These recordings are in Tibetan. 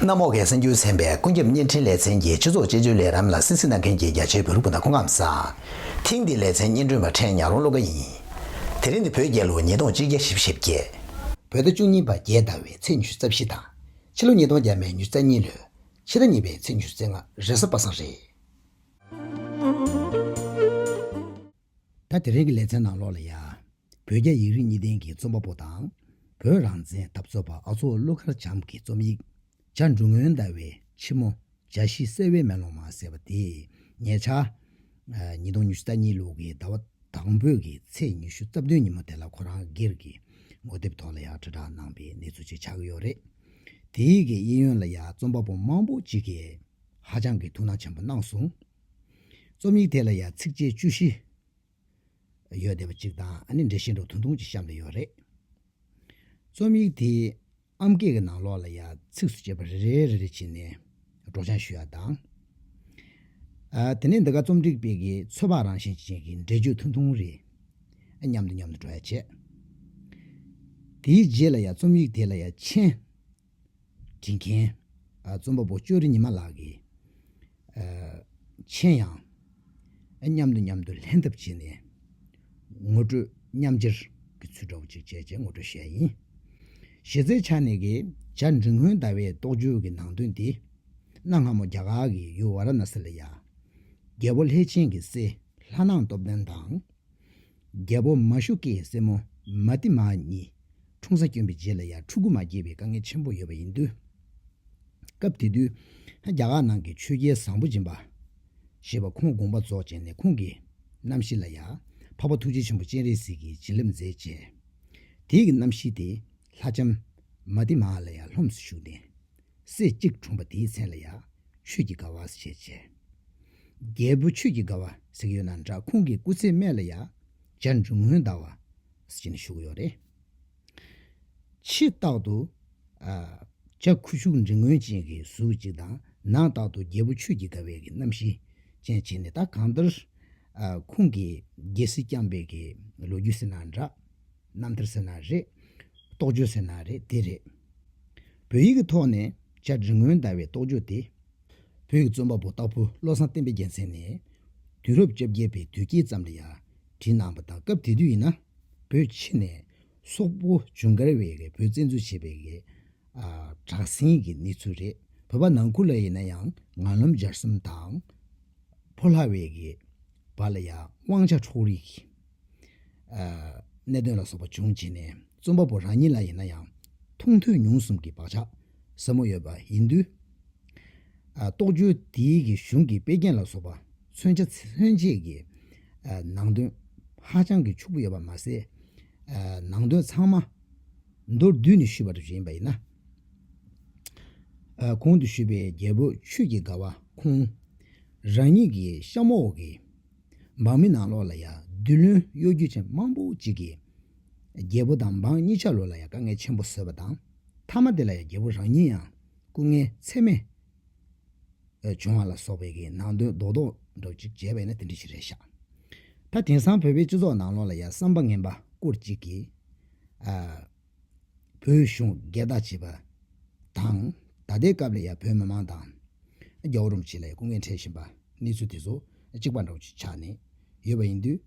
གནམ་འོག་གི་སེམས་རྒྱུད་ཚན་པས་ཀུན་ཁྱབ་བརྙན་འཕྲིན་ལེ་ཚན་གྱི་སྤྱི་ཚོགས་དཔྱད་བརྗོད་ལས་རམ་ལ་སེམས་གཟིགས་གནང་མཁན་གྱི་རྒྱ་ཆེའི་བོད་རིགས་སྤུན་ཟླ་ཁོང་ཁམས་བཟང། ཐེངས་འདིའི་ལེ་ཚན་སྙན་སྒྲོན་པ་ཕྲན་ཉག་རོང་བློ་དགའ་ཡིན། དེ་རིང་ནི་བོད་རྒྱལ་ལོ་ཉིས་སྟོང་གཅིག་བརྒྱ་བཞི་བཞི་བརྒྱད། བོད་ཟླ་བཅུ་གཉིས་པ་རྒྱལ་ཟླ་བའི་ཚེས་ཉི་ཤུ་རྩ་བཞི་དང། ཕྱི་ལོ་ཉིས་སྟོང་བརྒྱད་མའི་མྱུར་ཚད་གཉིས་ལོའི་ཕྱི་ཟླ་གཉིས་པའི་ཚེས་མྱུར་ཚད་ལྔ་རེ་ས་པ་སངས་རེད། ཟླ་དེ་རིང་གི་ལེ་ཚན་ནང་ལོགས་ལ་ཡ། བོད་རྒྱ་ཡིག་རིགས་གཉིས་ལྡན་གྱི་རྩོམ་པ་པོ་དང། བོད་རང་བཙན་འཐབ་རྩོད་པ་ཨ་ཚོགས་ཀླུ་མཁར་བྱམས་ཀྱི་རྩོམ་ཡིག། བྱ་འབྲུ་སྔོན་ཟླ་བའི་ཕྱི་མོ། བྱ་ཤིང་གསལ་བའི་མེ་ལོང་མ་ཟེར་བ་དེ་ངེད་ཅག། ཉིས་སྟོང་ཉི་ཤུ་རྩ་གཉིས་ལོ་གི་ཟླ་བ་དང་པོའི་གི་ཚེས་ཉི་ཤུ་རྩ་བདུན་ཉིན་མོ་དེ་ལ་ཁོ་རང་སྒེར་གི་ངོ་དེབ་ཐོག་ལ་ཡང་དྲིལ་བསྒྲགས་གནང་པའི་གནས་ཚུལ་ཅིག་ཆགས་ཀྱི་ཡོད་རེད། དེའི་གི་གཡས་གཡོན་ལ་ཡང་རྩོམ་པ་པོ་མང་པོ་ཅིག་གིས་ཧ་ཅང་གི་ཐུགས་སྣང་ཆེན་པོ་གནང་སོང། རྩོམ་ཡིག་དེ་ལ་ཡང་ཚིགས་བཅད་བཅུ་བཞི། ཡོད་བསྡད་པ་ཅིག་དང་ཨ་ནེ་འདྲེ་ཤེས་འགྲོ་ཐུང་ཐུང་ཅིག་གཤམ་དུ་ཡོད་རེད། རྩོམ་ཡིག་དེའི་ཨམ་སྐད་ཀྱི་ནང་ལོགས་ལ་ཡང་ཚིགས་སུ་བཅད་པ་རེ་རེ་རེ་རེ་བྱིན་ནས་སྒྲོག་སྦྱང་ཞུ་ཡག་དང། དེ་ནས་འདི་ག་རྩོམ་སྒྲིག་པས་ཀྱི་ཚོད་དཔག་རང་བཞིན་ཅན་གྱི་འགྲེལ་བརྗོད་ཐུང་ཐུང་རེ་མཉམ་དུ་མཉམ་དུ་སྒྲོག་ཡག་བྱས། དེའི་རྗེས་ལ་ཡང་རྩོམ་ཡིག་དེ་ལ་ཡང་མཆན། དྲིན་མཁན། རྩོམ་པ་པོ་ཅོ་རི་ཉི་མ་ལགས་ཀྱིས། མཆན་ཡང། མཉམ་དུ་མཉམ་དུ་ལྷན་ཐབས་བྱས་ནས། ངོ་སྤྲོད་མཉམ་སྦྱར་གྱི་ཚུལ་འདྲ་བོ་ཅིག་བྱས་ཅེས་ངོ་སྤྲོད་བྱས་ཡིན། གཞི་རྩའི་ཆ་ནས་ཀྱི་བྱ་འབྲི་མགོན་ཟླ་བའི་རྟོགས་བརྗོད་ཀྱི་ནང་དོན་འདི། གནའ་སྔ་མོ་རྒྱ་གར་གྱི་ཡུལ་བཱ་ར་ན་སི་ལ་ཡ། རྒྱལ་པོ་ལྷས་བྱིན་གྱི་སྲས་ལྷ་སྣང་སྟོབས་ལྡན་དང། རྒྱལ་པོ་མ་ཤུ་ཀའི་སྲས་མོ་མ་ཏི་མ་གཉིས་འཁྲུངས་ས་བསྐྱོན་པའི་རྗེས་ལ་ཡང་ཕྲུ་གུ་མ་སྐྱེས་པའི་དཀའ་ངལ་ཆེན་པོ་ཡོད་པ་ཡིན། དུས་སྐབས་དེ་དུས་རྒྱ་གར་ནང་གི་ཆོས་རྒྱལ་བཟང་པོ་སྦྱིན་པ་ཞེས་པ་ཁོང་དགོངས་པ་རྫོགས་བྱས་ནས་ཁོང་གི་རྣམ་ཤེས་ལ་ཡང་འཕགས་པ་ཐུགས་རྗེ་ཆེན་པོ་སྤྱན་རས་གཟིགས་ཀྱིས་བྱིན་རླབས་མཛད་ཅེས་དེའི་རྣམ་ཤེས་དེ་ལྷ་ལྕམ་མ་ཏི་མ་ལ་ཡང་ལྷུམས་སུ་ཞུགས་ནས་སྲས་གཅིག་འཁྲུངས་པ་དེའི་མཚན་ལ་ཡང་ཆོས་ཀྱི་དགའ་བ་ཞེས་བྱའི། རྒྱལ་བུ་ཆོས་ཀྱི་དགའ་བ་ཟེགས་ཡོད་ན་འདྲ་ཁོང་གི་སྐུ་ཚེའི་སྨད་ལ་ཡང་འཇའ་འབྲུ་སྔོན་ཟླ་བ་ཞེས་ནས་ཞུགས་ཡོད་རེད། ཕྱི་རྟག་ཏུ། འཇའ་ཁུ་བྱུག་འབྲི་སྔོན་ཅན་གྱི་གཟུགས་གཅིག་དང་ནང་རྟག་ཏུ་རྒྱལ་བུ་ཆོས་ཀྱི་དགའ་བའི་གི་རྣམ་ཤེས་ཅན་བྱས་ནས་ད་གང་ལྟར། ཁོང་གི་རྒྱལ་སྲིད་བསྐྱངས་པའི་གི་ལོ་རྒྱུས་ཟེར་ན་འདྲ། རྣམ་ཐར་ཟེར་ན་རེད། རྟོགས་བརྗོད་ཟེར་ན་རེད་དེ་རེད། བོད་ཡིག་གི་ཐོག་ནས་བཅར་འདྲི་སྔོན་བརྡ་བའི་རྟོགས་བརྗོད་དེ། བོད་ཡིག་རྩོམ་པ་པོ་སྟག་ཕུ་བློ་བཟང་བསྟན་པའི་རྒྱལ་མཚན་ནས། དུས་རབས་བཅོ་བརྒྱད་པའི་དུས་དཀྱིལ་ཙམ་ལ་ཡང་བྲིས་གནང་བ་དང་སྐབས་དེ་དུས་ཡིན་ན་བོད་ཕྱི་ནས་སོག་པོ་ཇུན་གར་བས་བོད་བཙན་འཛུལ་བྱས་པའི་བསྒྲགས་ཟིན་གྱི་གནས་ཚུལ་རེད། བོད་པ་ནང་ཁུལ་ལ་ཡིན་ན་ཡང་ངག་ལམ་སྦྱར་གསུམ་དང། ཕོ་ལྷ་བས་བར་ལ་ཡང་དབང་ཆ་འཕྲོག་རིགས། གནད་དོན་ལ་སོགས་པ་འབྱུང་རྗེས་ནས་རྩོམ་པ་པོ་རང་ཉིད་ལ་ཡིན་ན་ཡང་མཐོང་ཐོས་མྱོང་གསུམ་གྱི་བག་ཆགས་ཟབ་མོ་ཡོད་པ་ཡིན་དུས། རྟོག་འཇུག་དེའི་གཞུང་གི་དཔེ་རྒྱན་ལ་སོགས་པ་མཚོན་བྱ་མཚོན་བྱེད་ཀྱི་ནང་དོན་ཧ་ཅང་གི་ཕྱུག་པོ་ཡོད་པ་མ་ཟད། ནང་དོན་ཚང་མ་མདོར་བསྡུས་ནས་ཞུས་པ་རེ་ཞིག་ཡིན་པ་ཡིན་ན། གོང་དུ་ཞུས་པའི་རྒྱལ་པོ་ཆོས་ཀྱི་དགའ་བ་ཁོང་རང་ཉིད་ཀྱི་གཤམ་འོག་གི། འབངས་མི་ནང་ལོག་ལ་ཡང་རྡུལ་བློན་གཡོ་སྒྱུ་ཅན་དམངས་པོ་གཅིག་གིས། རྒྱལ་པོ་དང་འབངས་གཉིས་ཆ་ལུགས་ལ་ཡང་དཀའ་ངལ་ཆེན་པོ་བཟོས་པ་དང། མཐའ་མ་དེ་ལ་ཡང་རྒྱལ་པོ་རང་ཉིད་ཡང་སྐུ་ངལ་ཚད་མེད་བྱུང་བ་ལ་སོགས་པའི་གིས་ནང་དོན་རྡོག་རྡོག་འགྲོ་གཅིག་བྱས་པས་ན་དེ་འདྲ་ཞིག་རེད་ཤག། ད་དེང་སང་བོད་པའི་སྤྱི་ཚོགས་ནང་ལོག་ལ་ཡང་བསམ་པ་ངན་པ་སྐོར་གཅིག་གིས། བོད་གཞུང་སྒེར་བདག་བྱེད་པ་དང། ད་ལྟའི་སྐབས་ལ་ཡང་བོད་མི་མང་དང། རྒྱ་བོད་རུམ་བཅས་ལ་ཡང་སྐུ་ངལ་འཕྲད་བཞིན་པ་གནས་ཚུལ་དེ་ཚོ་གཅིག་པ་འདྲ་བོ་ཞིག་ཆགས་ནས་ཡོད་པ་ཡིན་དུས།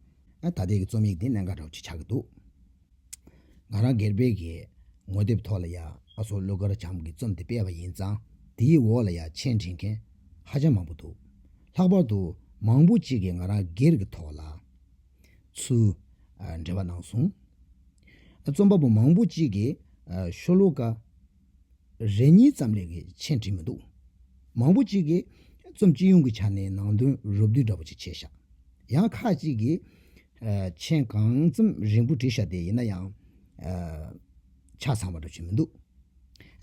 ད་ལྟའི་རྩོམ་ཡིག་འདི་གནད་འགག་འདྲ་བོ་ཞིག་ཆགས་ཀྱི་འདུག་ང་རང་སྒེར་པས་ཀྱི་ངོ་དེབ་ཐོག་ལ་ཡང་ཨ་ཚོགས་ཀླུ་མཁར་བྱམས་ཀྱི་རྩོམ་དེ་སྤེལ་བ་ཡིན་ཙང་དེའི་འོག་ལ་ཡང་མཆན་འབྲི་མཁན་ཧ་ཅང་མང་པོ་འདུག་ལྷག་པར་དུ་མང་པོ་གཅིག་གིས་ང་རང་སྒེར་གྱི་ཐོག་ལ། ཚུལ། འགྲེལ་བ་གནང་སོང། རྩོམ་པ་པོ་མང་པོ་གཅིག་གིས་ཤོ་ལོ་ཀ་རེ་གཉིས་ཙམ་ལས་ཆེ་བྲིས་མི་འདུག་མང་པོ་གཅིག་གིས་རྩོམ་སྤྱི་ཡོངས་ཀྱི་ཆ་ནས་ནང་དོན་རུབ་བསྡུས་འདྲ་པོ་ཅིག་བྱས་ཤག་ཡང་ཁག་གཅིག་གིས་མཆན་གང་ཙམ་རིང་པོ་བྲིས་ཤག་དེ་ཡིན་ན་ཡང་ཆ་ཚང་བ་འདྲ་བྱུང་མི་འདུག་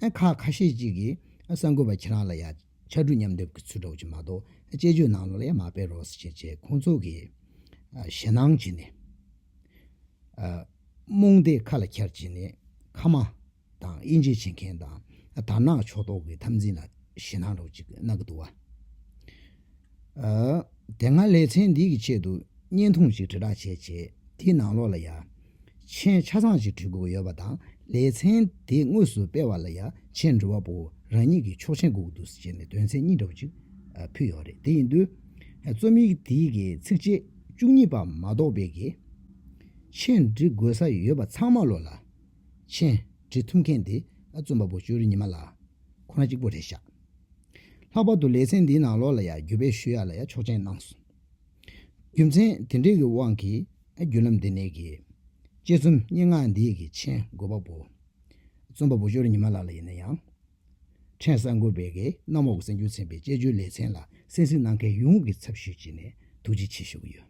ཁག་ཁ་ཤས་གཅིག་གིས་གསར་འགོད་པ་ཁྱེད་རང་ལ་ཡག་ཕྱར་གྲུ་མཉམ་སྡེབ་ཀྱི་ཚུལ་སྒྲོག་བྱེད་མ་གཏོགས་དཔྱད་བརྗོད་ནང་ལོགས་ལ་ཡང་མ་སྤེལ་རོགས་ཟེར་བྱས་ཁོང་ཚོ་གིས་ཞེད་སྣང་བྱས་ནས། རྨོངས་དད་ཁ་ལ་འཁྱར་བྱས་ནས་ཁ་མ་དང་དབྱེ་འབྱེད་བྱེད་མཁན་དང་དར་ནག་ཕྱོགས་གཏོགས་ཀྱི་འཐབ་འཛིང་ལ་ཞེད་སྣང་སྒྲོག་ཅིག་གནང་གི་འདུག་བ། དེ་སྔ་ལེ་ཚན་འདི་གི་ཆེད་དུ་བརྙན་ཐུང་ཞིག་དྲིལ་བསྒྲགས་བྱས་རྗེས་དེའི་ནང་ལོགས་ལ་ཡ། མཆན་ཆ་ཚང་ཞིག་བྲིས་འགུགས་ཡོད་པ་དང་ལེ་ཚན་དེ་དངོས་སུ་སྤེལ་བ་ལ་ཡ། མཆན་འབྲི་བ་པོ་རང་ཉིད་ཀྱིས་ཆོག་མཆན་འགུགས་འདུག་ཟེར་ནས་དོན་ཚན་གཉིས་འདྲ་བོ་ཅིག་ཕུལ་ཡོད་རེད་དེ་ཡིན་དུས། རྩོམ་ཡིག་དེ་གི་ཚིགས་བཅད་བཅུ་གཉིས་པ་མ་གཏོགས་པའི་གི། མཆན་འབྲི་དགོས་ས་ཡོད་པ་ཚང་མ་ལོགས་ལ། མཆན། བྲིས་ཐུབ་མཁན་དེ་རྩོམ་པ་པོ་ཅོ་རི་ཉི་མ་ལགས་ཁོ་རང་གཅིག་པོ་རེད་ཤག། ལྷག་པར་དུ་ལེ་ཚན་འདིའི་ནང་ལོགས་ལ་ཡང་བརྒྱུད་སྤེལ་ཞུ་ཡག་ལ་ཡང་ཆོག་མཆན་གནང་སོང། རྒྱུ་མཚན་དེ་འདྲའི་གི་དབང་གིས་བརྒྱུད་ལམ་འདི་ནས་གི། དཔྱད་རྩོམ་སྙན་ངག་འདིའི་གི་མཆན་འགོད་པ་པོ། རྩོམ་པ་པོ་ཅོ་རི་ཉི་མ་ལགས་ལ་ཡིན་ན་ཡང། ཕྲན་གསར་འགོད་པའི་གི་གནམ་འོག་གསར་འགྱུར་ཚན་པའི་དཔྱད་བརྗོད་ལེ་ཚན་ལ་གསན་གཟིགས་གནང་མཁན་ཡོངས་ཀྱི་ཚབ་ཞུས་བྱས་ནས་ཐུགས་རྗེ་ཆེ་ཞུ་གི་ཡོད།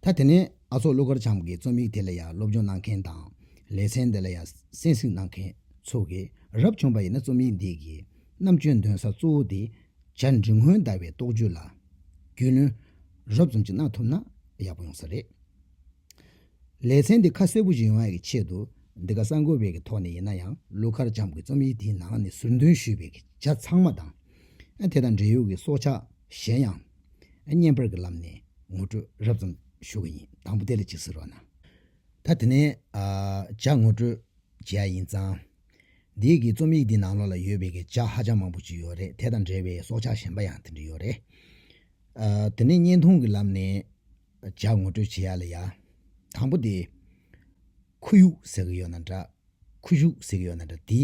ད་དེ་ནས་ཨ་ཚོགས་ཀླུ་མཁར་བྱམས་ཀྱི་རྩོམ་ཡིག་དེ་ལ་ཡང་སློབ་སྦྱོང་གནང་མཁན་དང། ལེ་ཚན་འདི་ལ་ཡང་གསན་གཟིགས་གནང་མཁན་ཚོ་གི་རབ་བྱུང་པ་ཡིན་ན་རྩོམ་ཡིག་འདི་གི་རྣམ་དཔྱོད་འདོན་ས་གཙོ་བོ་དེ་བྱ་འབྲི་སྔོན་དར་བའི་རྟོགས་བརྗོད་ལ་རྒྱུས་ལོན་རོབ་ཙམ་ཅིག་གནང་ཐུབ་ན་ཡག་པོ་ཡོང་ས་རེད། ལེ་ཚན་འདི་ཁ་གསལ་པོ་ཞིག་ཡོང་ཡག་གི་ཆེད་དུ་འདི་ག་གསར་འགོད་པའི་གི་ཐོག་ནས་ཡིན་ན་ཡང་ཀླུ་མཁར་བྱམས་ཀྱི་རྩོམ་ཡིག་དེའི་ནང་ནས་ཟུར་འདོན་ཞུས་པའི་གི་བྱ་ཚང་མ་དང། དེ་དང་འབྲེལ་ཡོད་ཀྱི་སྲོག་ཆགས། གཞན་ཡང། བརྙན་པར་གྱི་ལམ་ནས་ངོ་སྤྲོད་རབ་ཙམ་ཞུ་གི་ཡིན་དང་པོ་དེ་ལ་ཅིག་ཟེར་བ་ན། ད་དེ་ནས་ཇག་ངོ་སྤྲོད་བྱེད་ཡ་ཡིན་ཙང། འདི་གི་རྩོམ་ཡིག་འདི་ནང་ལོགས་ལ་ཡོད་པའི་གི་ཇག་ཧ་ཅང་མང་པོ་ཅིག་ཡོད་རེད་དེ་དང་འབྲེལ་བའི་སྲོག་ཆགས་གཞན་པ་ཡང་དེ་འདྲ་ཡོད་རེད། དེ་ནས་བརྙན་ཐུང་གི་ལམ་ནས་ཇག་ངོ་སྤྲོད་བྱེད་ཡ་ལ་ཡ། དང་པོ་དེ། ཁོར་ཡུག་ཟེར་གི་ཡོད་ན་འདྲ། ཁུ་བྱུག་ཟེར་གྱི་ཡོད་ན་འདྲ་དེ།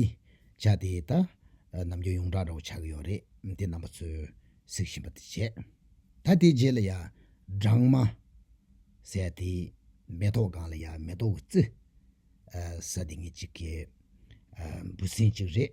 བྱ་དེ་ད། ནམ་རྒྱུན་ཡོངས་གྲགས་འདྲ་བོ་ཆགས་ཀྱི་ཡོད་རེད་དེ་རྣམ་པ་ཚོས་གཟིགས་བཞིན་པ་དེ་བྱས། ད་དེའི་རྗེས་ལ་ཡ། སྦྲང་མ། ཟེར་དེ། མེ་ཏོག་སྒང་ལ་ཡ་མེ་ཏོག་གི་རྩི། ཟ་དེ་ངེད་ཅིག་གི། འབུ་སྲིན་ཅིག་རེད།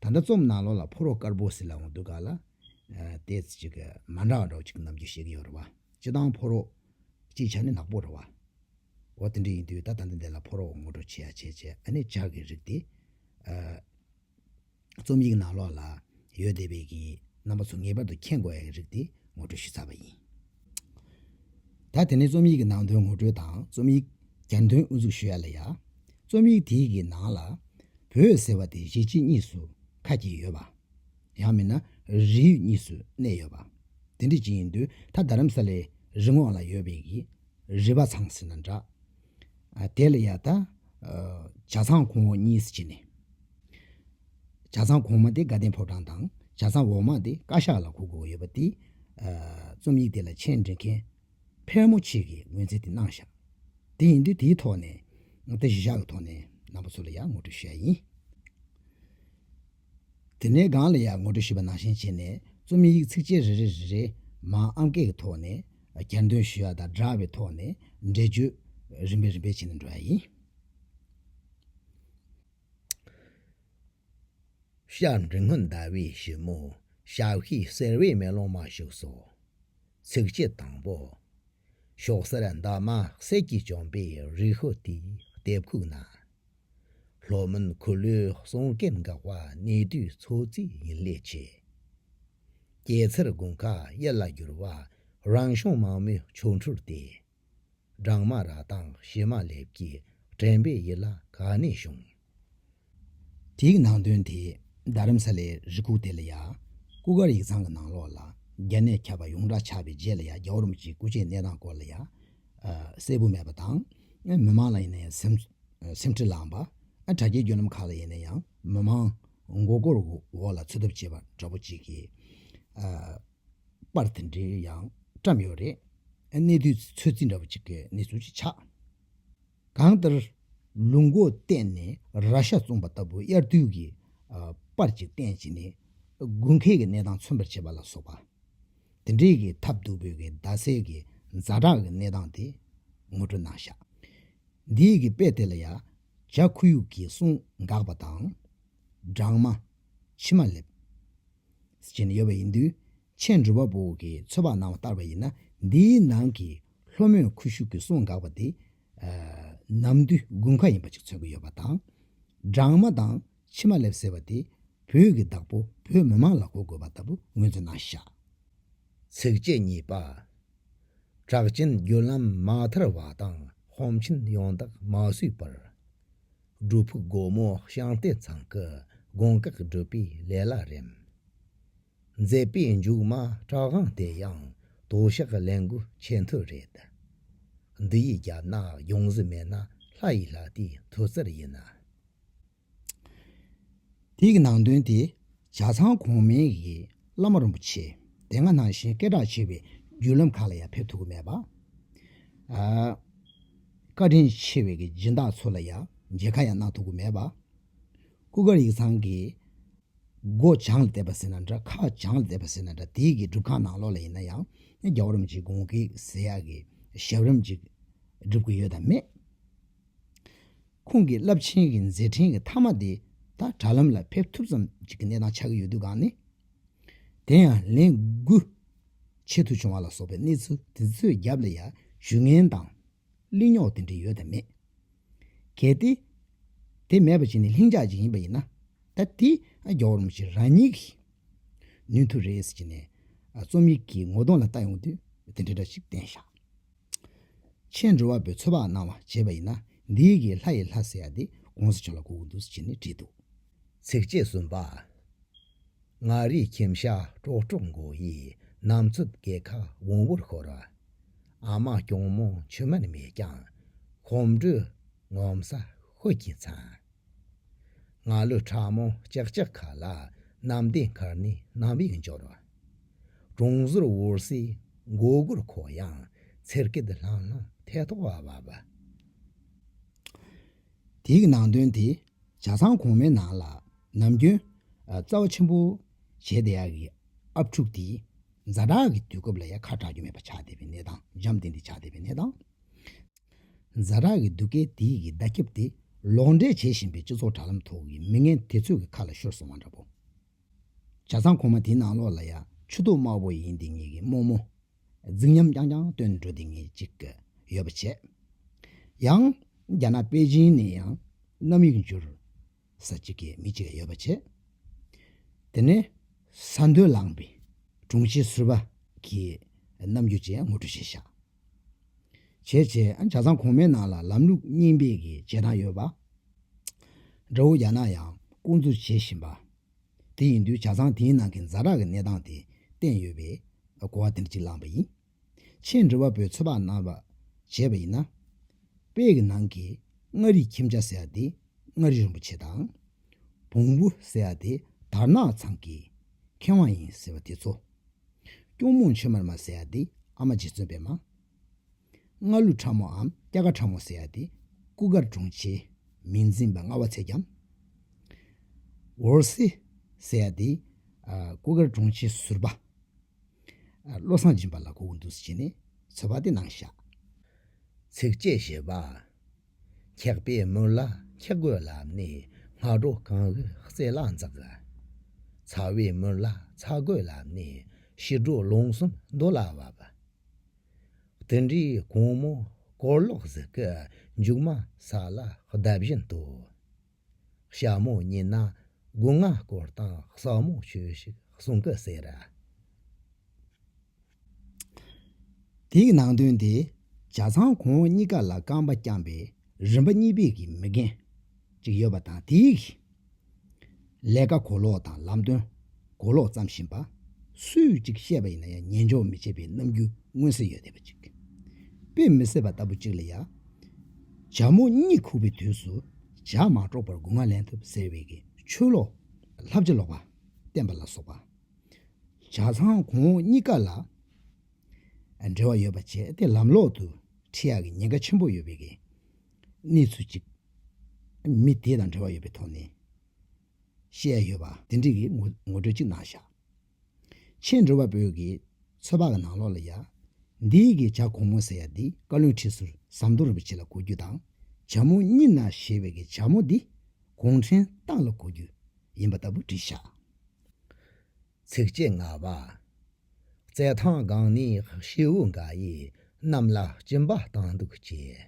ད་ལྟ་རྩོམ་ནང་ལོ་ལ་ཕོ་རོག་དཀར་པོ་ཟེར་ལ་འོང་དུས་ག་ལ། དེ་ཅི་གི་མ་འདྲ་བ་འདྲ་བོ་ཅིག་རྣམ་འགྱུར་ཤེས་ཀྱི་ཡོད་རེད་བ། སྤྱི་བཏང་ཕོ་རོག། སྤྱིའི་ཆ་ནས་ནག་པོ་རེད་བ། འོ་དེ་འདྲ་ཡིན་དུས་ད་ལྟ་འདི་འདི་ལ་ཕོ་རོག་ངོ་སྤྲོད་བྱས་ཡ་བྱས་བྱས་ཨ་ནི་ལྗགས་ཀྱི་རིགས་དེ། རྩོམ་ཡིག་ནང་ལོ་ལ་ཡོད་བསྡད་པའི་གི་རྣམ་པ་ཚོ་ངེས་པར་དུ་མཁྱེན་དགོས་ཡ་གི་རིགས་དེ་ངོ་སྤྲོད་ཞུས་ཚར་བ་ཡིན། ད་དེ་ནས་རྩོམ་ཡིག་གི་ནང་དོན་ངོ་སྤྲོད་དང་རྩོམ་ཡིག་གྱར་འདོན་དབུ་འཛུགས་ཞུ་ཡ་ལ་ཡ། རྩོམ་ཡིག་དེའི་གི་ནང་ལ། བོད་ཟེར་བ་དེ་གཞིས་བྱེས་གཉིས་སུ་ཁ་གྱེས་ཡོད་པ། ཡང་མིན་ན་རིགས་ཡུལ་གཉིས་སུ་གནས་ཡོད་པ། དེ་འདྲི་གྱི་ཡིན་དུས་ད་རྡ་རམ་ས་ལའི་རི་ངོགས་ལ་ཡོད་པའི་གི་རི་བ་ཚང་ཟེར་ན་འདྲ། དེ་ལ་ཡ་ད། བྱ་ཚང་གོང་འོག་གཉིས་སུ་གྱེས་ནས། བྱ་ཚང་གོང་མ་དེ་དགའ་ལྡན་ཕོ་བྲང་དང་བྱ་ཚང་འོག་མ་དེ་བཀའ་ཤག་ལ་གོ་དགོས་ཡོད་པ་དེ། རྩོམ་ཡིག་དེ་ལ་མཆན་འབྲི་མཁན་ཕལ་མོ་ཆེ་གིས་ངོས་འཛིན་དེ་གནང་བཞག་དེ་ཡིན་དུས་དེའི་ཐོག་ནས་ད་གཞི་བཞག་གི་ཐོག་ནས་ནང་པ་ཚོ་ལ་ཡང་ངོ་སྤྲོད་ཞུ་ཡ་ཡིན། དེ་ནས་སྒང་ལ་ཡང་ངོ་སྤྲོད་ཞུས་པ་ནང་བཞིན་བྱས་ནས་རྩོམ་ཡིག་ཚིགས་བཅད་རེ་རེ་རེ་རེ་མང་ཨང་སྐད་ཀྱི་ཐོག་ནས་གྱེར་འདོན་ཞུ་ཡ་དང་འདྲ་བའི་ཐོག་ནས་འགྲེལ་བརྗོད་རིམ་པས་རིམ་པས་བྱེད་ནས་འགྲོ་ཡ་ཡིན། ཤར་འབྲི་སྔོན་ཟླ་བའི་ཞིབ་མོ་ཞག་ཤས་གསལ་བའི་མེ་ལོང་མ་བཞུགས་སོ། ཚིགས་བཅད་དང་པོ། ཤོག་སེར་འདབ་མ་གསེར་གྱིས་བྱོན་པའི་རི་ཤོ་དེའི་ལྟེབས་ཁུག་ན། ལྷོ་མོན་གུ་ལུའི་གསུང་སྐད་འགག་པ་གནས་དུས་འཚོ་རྩིས་ཡིན་ལས་ཆེ། སྐྱེད་ཚལ་དགུན་ཁ་གཡས་ལ་བསྒྱུར་བ་རང་བྱུང་མ་མོའི་ཆོ་འཕྲུལ་ཏེ། སྦྲང་མ་ར་དང་བྱེ་མ་ལེབ་ཀྱིས་བྲན་པའི་ཡིད་ལ་ག་ནས་བྱུང། དེའི་ནང་དོན་དེས་རྡ་རམ་ས་ལའི་རི་ཁུག་དེ་ལ་ཡ་སྐུ་སྒར་ཡིག་ཚང་གི་ནང་ལོགས་ལ་རྒྱ་ནས་ཁྱབ་པ་ཡོངས་གྲགས་ཆགས་པའི་རྗེས་ལ་ཡ་རྒྱ་འོར་མོ་གཅིག་སྐུ་ཆེའི་གནས་སྟངས་སྐོར་ལ་ཡ་གསལ་པོ་མེད་པ་དང། མི་མང་ལ་ཡིན་ན་ཡང་སེམས་སེམས་ཁྲལ་ལངས་པ། དྲ་རྒྱའི་བརྒྱུད་ལམ་ཁག་ལ་ཡིན་ན་ཡང་མི་མང་མགོ་སྐོར་འོག་ལ་འཚོལ་ཐབས་བྱེད་པ་འདྲ་པོ་གཅིག་གིས། པར་དེ་འདྲའི་ཡང་བཀྲམ་ཡོད་རེད། གནས་དུས་ཚོད་རྩིས་འདྲ་པོ་ཅིག་གི་གནས་ཚུལ་ཞིག་ཆགས། གང་ལྟར། ལུག་མགོ་གཏད་ནས་ར་ཤ་བཙུམ་པ་ལྟ་བུ་དབྱར་དུས་ཀྱི་པར་གྱི་སྟེང་བྱིན་ནས་དགུན་ཁའི་གནས་སྟངས་མཚོན་པར་བྱེད་པ་ལ་སོགས་པ། དེ་འདྲའི་གི་ཐབས་སྡུག་པོའི་གི་རྡ་སའི་གི་རྫ་བྲག་གི་གནས་སྟངས་དེ་ངོ་སྤྲོད་གནང་ཤག། འདིའི་གི་དཔེ་དེ་ལ་ཡ་རྒྱ་ཁུ་ཡུག་གི་གསུང་འགག་པ་དང། སྦྲང་མ། མཆི་མ་ལེབ། བཞིན་ཡོད་པ་ཡིན་དུས། ཆེས་འགྲུལ་པ་པོ་གིས་ཚོད་དཔག་གནང་བ་ལྟར་བ་ཡིན་ན་འདིའི་ནང་གི་ལྷོ་མོན་ཁུ་བྱུག་གི་སྲུང་འགག་པ་དེ། ནམ་རྡུལ་དགུན་ཁ་ཡིན་པ་ཅིག་འཚོལ་གྱི་ཡོད་པ་དང། སྦྲང་མ་དང་ཕྱི་མ་ལེབ་ཟེར་བ་དེ་བོད་ཀྱི་བདག་པོ་བོད་མི་མང་ལ་གོ་དགོས་པ་ལྟ་བུ་ངོས་འཛིན་གནང་བཞག། ཚིགས་བཅད་གཉིས་པ། གྲགས་ཅན་བརྒྱུད་ལམ་མ་དར་བ་དང་གོམ་ཆེན་ཡོངས་དག་མ་བཟོས་པར། སྒྲུབ་ཕུག་སྒོ་མོ་བཤང་སྟེ་ཚང་གི་དགོན་བཀག་སྒྲུབ་པའི་ལས་ལ་རེམ། མཛད་པའི་མཇུག་མ་བྲག་དབང་དེ་ཡང་དོ་ཞག་ལན་དགུ་ཆད་མཐུ་རེད། འདི་ཡི་རྒྱབ་ན་ཡོང་གཟི་མེད་ན་ལྷ་ཡི་ལྷ་དེའི་མཐུ་རྩལ་ཡིན། དེ་ཡི་ནང་དོན་དེ་བྱ་ཚང་གོང་མའི་ཡི་བླ་མ་རིན་པོ་ཆེ་དེ་སྔ་ནང་བཞིན་སྐད་གྲགས་ཆེ་བའི་བརྒྱུད་ལམ་ཁག་ལ་ཡང་ཕེབས་ཐུབ་ཀྱི་མེད་པ། བཀའ་དྲིན་ཆེ་བའི་གི་སྦྱིན་བདག་ཚོ་ལ་ཡང་མཇལ་ཁ་ཡང་གནང་ཐུབ་ཀི་མེད་པ། སྐུ་སྒར་ཡིག་ཚང་གི་སྒོ་བྱང་ལ་བསྡད་པ་ཟེར་ན་འདྲ་ཁ་བྱང་ལ་བསྡད་པ་ཟེར་ན་འདྲ་དེའི་གི་སྒྲུབ་ཁང་ནང་ལོགས་ལ་ཡིན་ན་ཡང་རྒྱ་བོ་རིམ་གྱིས་དགོངས་ཀི་ཟེར་ཡག་གི་ཞབས་རིམ་ཅིག་སྒྲུབ་ཀི་ཡོད་དམ་མེད། ཁོང་གི་རླབས་ཆེན་གི་མཛད་འཕྲིན་གི་མཐའ་མ་དེ་ད་དྲ་ལམ་ལ་ཕེབས་ཐུབ་ཙམ་ཅིག་གི་གནས་སྟངས་ཆགས་ཀི་ཡོད་དུས་གང་ནི། དེ་ཡང་ལན་དགུ་ཆེད་དུ་བྱུང་བ་ལ་སོགས་པའི་གནས་ཚུལ་དེ་ཚོའི་རྒྱབ་ལ་ཡང་ཞུ་ངན་དང་གླིང་རྙོག་དེ་འདྲ་ཡོད་དམ་མེད། གལ་ཏེ་དེ་མེད་པ་བྱས་ནས་ལྷིང་འཇགས་ཅིག་ཡིན་པ་ཡིན་ན་ད་དེ་རྒྱ་བོར་མ་ཤེས་རང་ཉིད་ཀྱིས་ནུས་མཐུ་རེ་བྱས་ནས་རྩོམ་ཡིག་གི་ངོ་གདོང་ལ་ལྟ་ཡོང་དུས་དེ་འདྲ་འདྲ་ཞིག་བསྟན་བཞག་ཕྱིན་འགྲོ་བ་པོའི་ཚོད་དཔག་གནང་བ་བྱས་པ་ཡིན་ན་འདི་གི་ལྷ་ཡི་ལྷ་ཟེར་ཡ་དེ་དགོངས་སུ་བྱོན་ལ་གོ་གི་འདུག་ཅེས་ནས་བྲིས་འདུག་ཚིགས་བཅད་གསུམ་པ། མངའ་རིས་ཁྱིམ་ཞག་ཀྲོག་ཀྲོག་མགོ་ཡི་ནམ་འཚུབ་སྐེ་ཁ་བོང་བུར་ཤོར། ཨ་མ་སྐྱོང་མོ་མཆུ་མར་མེ་རྐྱང་གོམ་འགྲོས་ངོམ་ས་ཧོལ་གྱིས་འཚང། ང་ལོས་ཕྲ་མོ་ལྕག་ལྕག་ཁ་ལ་གནམ་བདེ་མཁར་ནས་གནམ་ཡིག་འབྱོར། གྲོང་ཟུར་དབུར་སའི་མགོ་སྒུར་ཁོ་ཡང་ཚེར་སྐད་ལྷང་ལྷང་ཐལ་ཐོག་བབས། དེའི་ནང་དོན་དེ་བྱ་ཚང་གོང་མའི་ནང་ལ་ནམ་རྒྱུན། རྩ་བ་ཆེན་པོ། བྱས་ཏེ་ཡག་གི་ཨབ་ཕྲུག་དེ། རྫ་དྲག་གི་དུས་སྐབས་ལ་ཡ་ཁ་གྲགས་རྒྱུ་མེད་པ་ཆགས་བསྡད་པའི་གནས་དང་འཇམ་བསྟེན་དེ་ཆགས་བསྡད་པའི་གནས་དང། རྫ་དྲག་གི་སྡུག་སྐད་དེ་ཡི་གི་བརྡ་ཁྱབ་དེ་ལོག་འགྲེལ་བྱེད་བཞིན་པའི་སྤྱི་ཚོགས་དྲ་ལམ་ཐོག་གི་མི་ངན་དེ་ཚོས་གི་ཁ་ལ་ཤོར་སོང་བ་འདྲ་པོ། བྱ་ཚང་གོང་མ་དེའི་ནང་ལོགས་ལ་ཡ་ཆུ་ཏོག་དམར་བོ་ཡིན་དེ་ངེད་གི་རྨོ་རྨོ། རྫིག་ཉམས་རྐྱང་རྐྱང་སྟོན་འགྲོ་དེ་ངེས་ཅིག་ཡོད་པ་བྱས། ཡང། རྒྱ་ནག་པེ་ཅིན་ནས་ཡང་གནམ་ཡིག་འབྱོར་ས་གཅིག་གི་མི་གཅིག་ཡོད་པ་བྱས། དེ་ནས་ས་མཐོའི་ལངས་པའི་དྲུང་ཆེ་ཟུར་པ་གྱི་རྣམ་འགྱུར་བཅས་ངོ་སྤྲོད་བྱས་ཤག་བྱས་བྱས་བྱས་བྱས་ཙང་གོང་མའི་ནང་ལ་ལམ་ལུགས་རྙིང་པའི་གི་བྱེད་སྟངས་ཡོད་པ་འདྲ་བོ་རྒྱ་ནག་ཡང་བསྐོང་ཚུགས་བྱེད་བཞིན་པ་དེ་ཡིན་དུས་བྱ་ཚང་དེའི་ནང་གི་འཛའ་དྲག་གི་གནས་སྟངས་དེ་བསྟན་ཡོད་པས། གོ་བ་དེ་འདྲ་ཅིག་བླངས་པ་ཡིན། ཆེས་འབྲི་བ་པོས་ཚོད་དཔག་གནང་བར་བྱས་པ་ཡིན་ན། དཔེ་ཡི་ནང་གི་མངའ་རིས་ཁྱིམ་བྱ་ཟེར་བ་དེ་མངའ་རིས་རིན་པོ་ཆེ་དང། བོང་བུ་ཟེར་བ་དེ་དར་ནག་ཚང་གི་མཁས་དབང་ཡིན་ཟེར་བ་དེ་ཚོ། སྐྱུང་མོང་ཆོས་མར་མ་ཟེར་བ་དེ་ཨ་མ་རྗེ་བཙུན་པད་མ། སྔགས་ལུས་ཕྲ་མོའམ་སྐྱ་ཀ་ཕྲ་མོ་སེར་ཏེ་སྐུ་དཀར་གྲོང་ཆེ། མི་འཛིན་པ་མངའ་བ་ཚད་ཀྱང་འོར་སེར་སེར་ཏེ། སྐུ་དཀར་གྲོང་ཆེ་ཟུར་པ། བློ་བཟང་སྦྱིན་པ་ལ་གོ་བོ་འདུག་ཟེར་བྱས་ནས་ཚོལ་བ་སྟེ་ནང་བཞག། ཚིགས་བཅད་བཞི་པ། ཁེགས་པའི་མུར་ལ་ཁེགས་རྒོད་ལ་ནི་སྔགས་སྒྲོ་གང་ལུས་རྩེ་ལ་འཛག། ཚ་བའི་མུར་ལ་ཚ་རྒོད་ལ་ནི་ཤི་སྒྲོ་རླུང་གསུམ་རྡོ་ལ་བབ། དེ་འདྲའི་གུང་མོ་སྐོར་ལོག་གཟིག་གི་མཇུག་མ་ས་ལ་བརྡབ་བཞིན་དུ། ཞྭ་མོ་རྙེད་ན་སྒོ་ང་སྐོར་དང་སྲོག་མོ་ཆོས་ཤིག་གསུང་གི་ཟེར། དེའི་ནང་དོན་དེ་བྱ་ཚང་ཁོང་གཉིས་ཀ་ལ་རྐང་པ་བརྐྱངས་པའི་རིམ་པ་གཉིས་པའི་མི་རྒན་ཅིག་ཡོད་པ་དང་དེའི། ལས་ཀ་གོ་ལོག་དང་ལམ་སྟོན་གོ་ལོག་བརྩམས་བཞིན་པ། སུས་ཅིག་བཤད་པ་ཡིན་ན་ཡང་ཉན་འཇོག་མི་བྱེད་པའི་རྣམ་འགྱུར་མངོན་གསལ་ཡོད་བསྡད་པ་ཅིག། དཔེ་མི་གསལ་བ་ལྟ་བུ་ཅིག་ལ་ཡང། བྱ་མོ་གཉིད་ཁུག་པའི་དུས་སུ་བྱ་མ་དཀྲོགས་པར་སྒོ་ང་ལེན་ཐུབ་ཟེར་བའི་གི་ཆོས་ལོག། ལྷ་བྱ་ལོག་པ་བསྟན་པ་ལ་སོགས་པ། བྱ་ཚང་གོང་འོག་གཉིས་ཀ་ལ་འབྲེལ་བ་ཡོད་པ་བྱས་ཏེ་ལམ་ལོག་ཏུ་ཁྲིད་ཡག་གི་ཉེན་ཁ་ཆེན་པོ་ཡོད་པའི་གི་གནས་ཚུལ་གཅིག། མི་དེ་དང་འབྲེལ་བ་ཡོད་པའི་ཐོག་ནས། བཤད་ཡ་ཡོད་པ་དེ་འདྲི་གི་ངོ་སྤྲོད་གཅིག་གནང་བཞག། ཕྱི་འགྲོ་བ་པོའི་གི་ཚོད་དཔག་གི་ནང་ལོག་ལ་ཡ། འདིའི་གི་བྱ་གོང་མོ་ཟེར་ཡ་འདི་བཀའ་བློན་ཁྲི་ཟུར་ཟམ་གདོང་རིན་པོ་ཆེ་ལ་གོ་རྒྱུ་དང་བྱ་མོ་གཉིས་ན་ཞེས་པའི་གི་བྱ་མོ་འདི་གུང་ཁྲན་ཏང་ལ་གོ་རྒྱུ་ཡིན་པ་ལྟ་བུ་འདྲི་བཞག། ཚིགས་བཅད་ལྔ་པ། རྩེད་ཐང་སྒང་ནས་ཤེའུ་འགའ་ཡིས་གནམ་ལ་སྤྱིན་པ་བཏང་འདུག་ཅེས།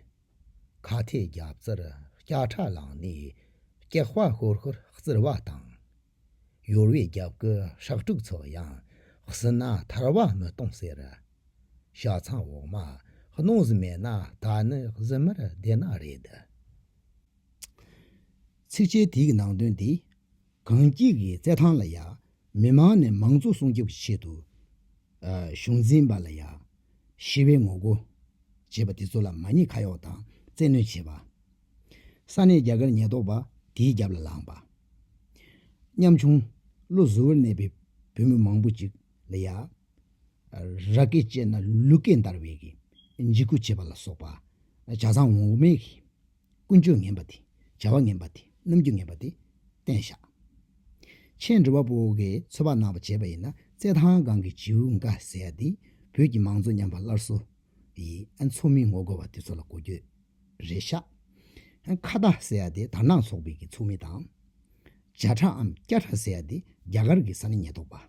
ཁ་ཐེ་རྒྱ་བཙིར་སྐྱ་ཁྲ་ལངས་ནས་སྐྱག་པ་ཤོར་ཤོར་བཙིར་བ་དང། ཡོལ་བའི་རྒྱབ་ཀྱི་ཧྲག་དྲུག་ཚོ་ཡང་བསྲིས་ན་ཐར་བ་མི་གཏོང་ཟེར། ཤ་ཚང་འོག་མ་གནོང་གཟི་མེད་ན་ད་ནི་གཟི་མེར་བདེ་ན་རེད། ཚིགས་བཅད་དེའི་ནང་དོན་དེ་གངས་སྐྱིད་ཀྱི་རྩེད་ཐང་ལ་ཡང། མི་མང་ནས་མང་གཙོ་སྲུང་སྐྱོབ་ཆེད་དུ། གཞུང་འཛིན་པ་ལ་ཡང། ཞི་བའི་ངོ་རྒོལ། བྱེད་པ་དེ་ཚོ་ལ་མ་ཉེས་ཁ་གཡོག་དང་བཙན་གནོད་བྱེད་པ། ས་གནས་རྒྱ་གར་ཉེས་རྟོག་པ་དེའི་རྒྱབ་ལ་ལངས་པ། ཉམ་ཆུང། བློ་གཟུ་བོར་གནས་པའི་བོད་མི་མང་པོ་ཅིག་ལ་ཡང། ར་སྐད་བཅད་ན་ལུ་སྐད་འདར་བའི་འཇིགས་སྐུལ་བྱེད་པ་ལ་སོགས་པ། བྱ་བཟང་འོག་མའི། ཀུན་སྤྱོད་ངན་པ་དེ་བྱ་བ་ངན་པ་དེ་རྣམ་འགྱུར་ངན་པ་དེ་བསྟན་བཞག། མཆན། འབྲི་བ་པོ་གིས་ཚོད་དཔག་གནང་བ་བྱས་པ་ཡིན་ན་རྩེད་ཐང་སྒང་གི་བྱིའུ་འགའ་ཟེར་ཡ་འདི་བོད་ཀྱི་མང་གཙོ་ཉམས་པ་སླར་གསོ་ཡི་ཨ་མཚོ་མི་ངོ་རྒོལ་བ་དེ་ཚོ་ལ་གོ་རྒྱུ་རེད་ཤག་ཨ་ཁ་བརྡ་ཟེར་ཡ་འདི་དར་ནག་ཚོགས་པའི་གི་ཚོགས་མི་དང། འཇའ་ཁྲ་འམ་སྐྱ་ཁྲ་ཟེར་ཡ་འདི་རྒྱ་གར་གི་ས་གནས་ཉེས་རྟོག་པ།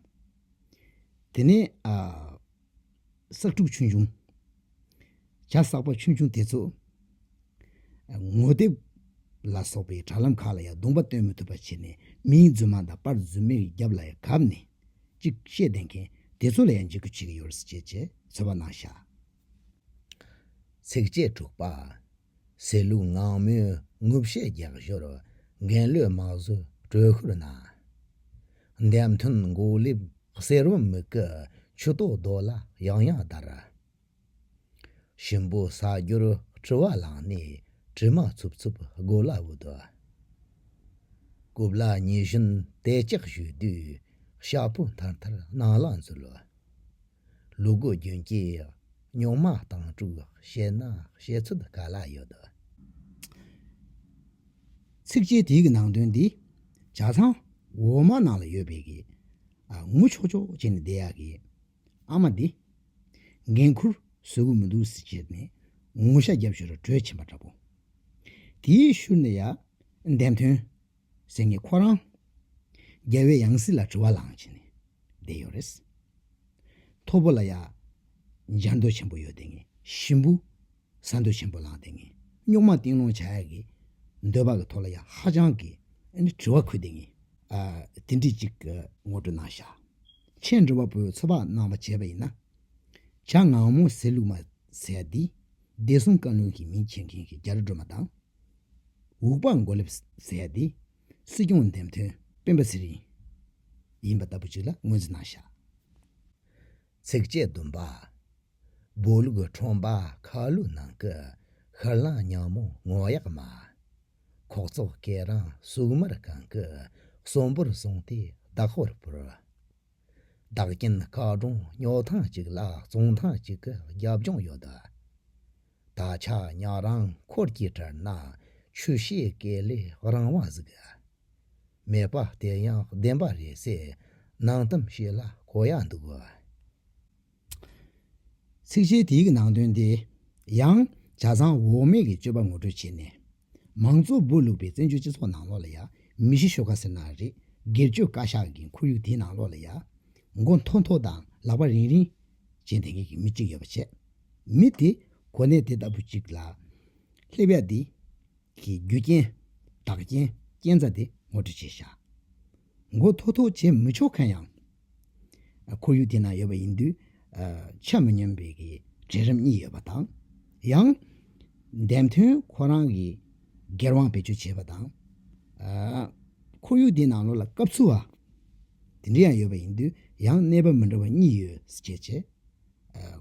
དེ་ནས་ཨ། བསགས་དྲུག་ཆོས་འབྱུང། བྱ་བསགས་པ་ཆོས་འབྱུང་དེ་ཚོ། ངོ་དེབ་ལ་སོགས་པའི་དྲ་ལམ་ཁག་ལ་ཡང་བརྡུངས་པ་སྟོན་མི་ཐུབ་པ་བྱས་ནས་མིའི་རྫུན་མ་དང་པར་རྫུན་མའི་རྒྱབ་ལ་ཡང་གབ་ནས་ཅིག་བཤད་བསྡད་མཁན་དེ་ཚོ་ལ་ཡང་འཇིགས་སྐུལ་བྱེད་ཀྱི་ཡོད་རེད་ཅེས་ཚོད་དཔག་གནང་ཞག་ཚིགས་བཅད་དྲུག་པ། ཟེར་ལུགས་ངང་མོས་ངུ་བཤད་རྒྱག་ཞོར་འགན་བློས་མ་བཟོད་དྲོད་ཤུར་གནང། འདེམས་མཐུན་མགོ་ལེབ་གསེར་བུམ་མིག་གི་མཆུ་ཏོ་རྡོ་ལ་ཡང་ཡང་བརྡར། ཞིམ་པོ་ཟ་རྒྱུར་དྲི་བ་ལངས་ནས་དྲི་མ་འཚུབ་འཚུབ་སྒོ་ལ་བུད། རྐུབ་ལ་ཉི་གཞོན་དལ་ཅག་བཞུས་དུས་ཤ་ཕོ་མཐར་མཐར་སྣང་ལ་འཛུལ། ལུ་གུ་རྒྱུན་སྐྱེས། རྙོག་མ་དང་དྲུག་བཤད་ན་བཤད་ཚུལ་ག་ལ་ཡོད། ཚིགས་བཅད་དེ་གི་ནང་དོན་འདི་བྱ་ཚང་འོག་མ་ནང་ལ་ཡོད་པས་གི། ངུ་ཆོག་ཆོག་བྱས་ནས་བསྡད་ཡག་གི། ཨ་མ་འདི། འགན་ཁུར་བཟོད་གི་མི་འདུག་ཟེར་བྱས་ནས་ངུ་ཤ་རྒྱབ་ཞོར་གྲོས་ཆེན་པ་འདྲ་པོ་དེའི་ཤུར་ནས་ཡ། བདེན་དོན། སེམས་ནི་ཁོ་རང། རྒྱལ་བའི་ཡང་སྲིད་ལ་དྲི་བ་ལངས་བྱས་ནས་བསྡད་ཡོད་རེད། ཐོ་བོ་ལ་ཡང་འཇམ་འདོད་ཆེན་པོ་ཡོད་དེ་ངས་ཞིམ་པོ་ཟ་འདོད་ཆེན་པོ་ལངས་ཏེ་ངས་རྙོག་མ་གཏིང་སློང་བྱ་ཡག་གི་འདོད་པ་གི་ཐོག་ལ་ཡང་ཧ་ཅང་གི་དྲི་བ་འཁུར་ཏེ་ངས་དེ་འདྲི་གཅིག། ངོ་སྤྲོད་གནང་བཞག་ཁྱེད་འགྲོ་བ་པོའི་ཚོད་དཔག་གནང་བ་བྱས་པ་ཡིན་ན། བྱ་ངང་མོ་ཟེར་ལུགས་མ་ཟེར་འདི་བདེ་སྲུང་བཀའ་བློན་གྱི་མིང་མཁྱེན་མཁན་གྱི་རྒྱ་རི་སྒྲོལ་མ་དང། འུག་པ་མགོ་ལེབ་བཟས་ཏེ་སྲིད་སྐྱོང་འདེམས་ཐོན་སྤེན་པ་ཚེ་རིང་ཡིན་པ་ལྟ་བུ་ཅིག་ལ་ངོས་འཛིན་གནང་བཞག་ཚིགས་བཅད་བདུན་པ། འབོ་ལུག་ཁྲོམ་པ་ཁ་ལུ་ནང་གི་ཤར་གླང་ཉག་མོ་ངོ་གཡག་མ། ཁོག་བཙོག་སྐེ་རང་སུག་མར་གང་གི་གསོན་པོར་སོང་སྟེ་བདག་ཧོར་བོར། བདག་རྐྱེན་སྐག་སྒྲོང་སྨྱོ་ཐང་ཅིག་ལ་བཙོང་ཐང་ཅིག་གི་རྒྱབ་ལྗོངས་ཡོད། བདག་ཅག་ཉག་རང་འཁོར་གྱི་དྲར་ན་ཆུ་ཤེལ་སྐས་ལས་རང་དབང་གཟིགས། མེད་པ་དེ་ཡང་བདེན་པ་རེད་ཟེར་ནང་གཏམ་ཞིག་ལ་གོ་ཡག་འདུག། ཚིགས་བཅད་དེའི་ནང་དོན་དེ་ཡང་བྱ་བཟང་འོག་མིན་གྱི་སྤྱོད་པ་ངོ་སྤྲོད་བྱས་ནས། མང་གཙོ་འབུ་བླུགས་པའི་བཙན་བྱོལ་སྤྱི་ཚོགས་ནང་ལོགས་ལ་ཡ། མི་ཤི་ཤོ་ག་ཟེར་ན་རེད། སྒེར་གཅོད་བཀའ་ཤག་གི་འཁོར་ཡུག་དེའི་ནང་ལོགས་ལ་ཡ། མགོ་མཐོ་མཐོ་དང་ལག་པ་རིང་རིང། ཅེས་འདེད་མཁན་གྱི་མི་གཅིག་ཡོད་པ་བྱས། མི་དེ། གོ་གནས་དེ་ལྟ་བུ་གཅིག་ལ། སླེབས་ཡ་འདི། གི་རྒྱུ་རྐྱེན། བདག་རྐྱེན། རྐྱེན་རྩ་དེ་ངོ་སྤྲོད་བྱེད་བཞག། མགོ་མཐོ་མཐོ་བྱེད་མི་ཆོག་མཁན་ཡང། ཁོར་ཡུག་དེ་ན་ཡོད་པ་ཡིན་དུས་ཆ་མི་སྙོམས་པའི་གྲལ་རིམ་གཉིས་ཡོད་པ་དང། ཡང་འདེམས་ཐོན་ཁོ་རང་གི་སྒེར་དབང་བེད་སྤྱོད་བྱེད་པ་དང། ཁོར་ཡུག་དེའི་ནང་ལོགས་ལ་སྐབས་འཚོལ་བ་དེ་འདྲ་ཡང་ཡོད་པ་ཡིན་དུས་ཡང་གནས་བབ་མི་འདྲ་བ་གཉིས་ཡོད་སྐྱེས་ཆེད་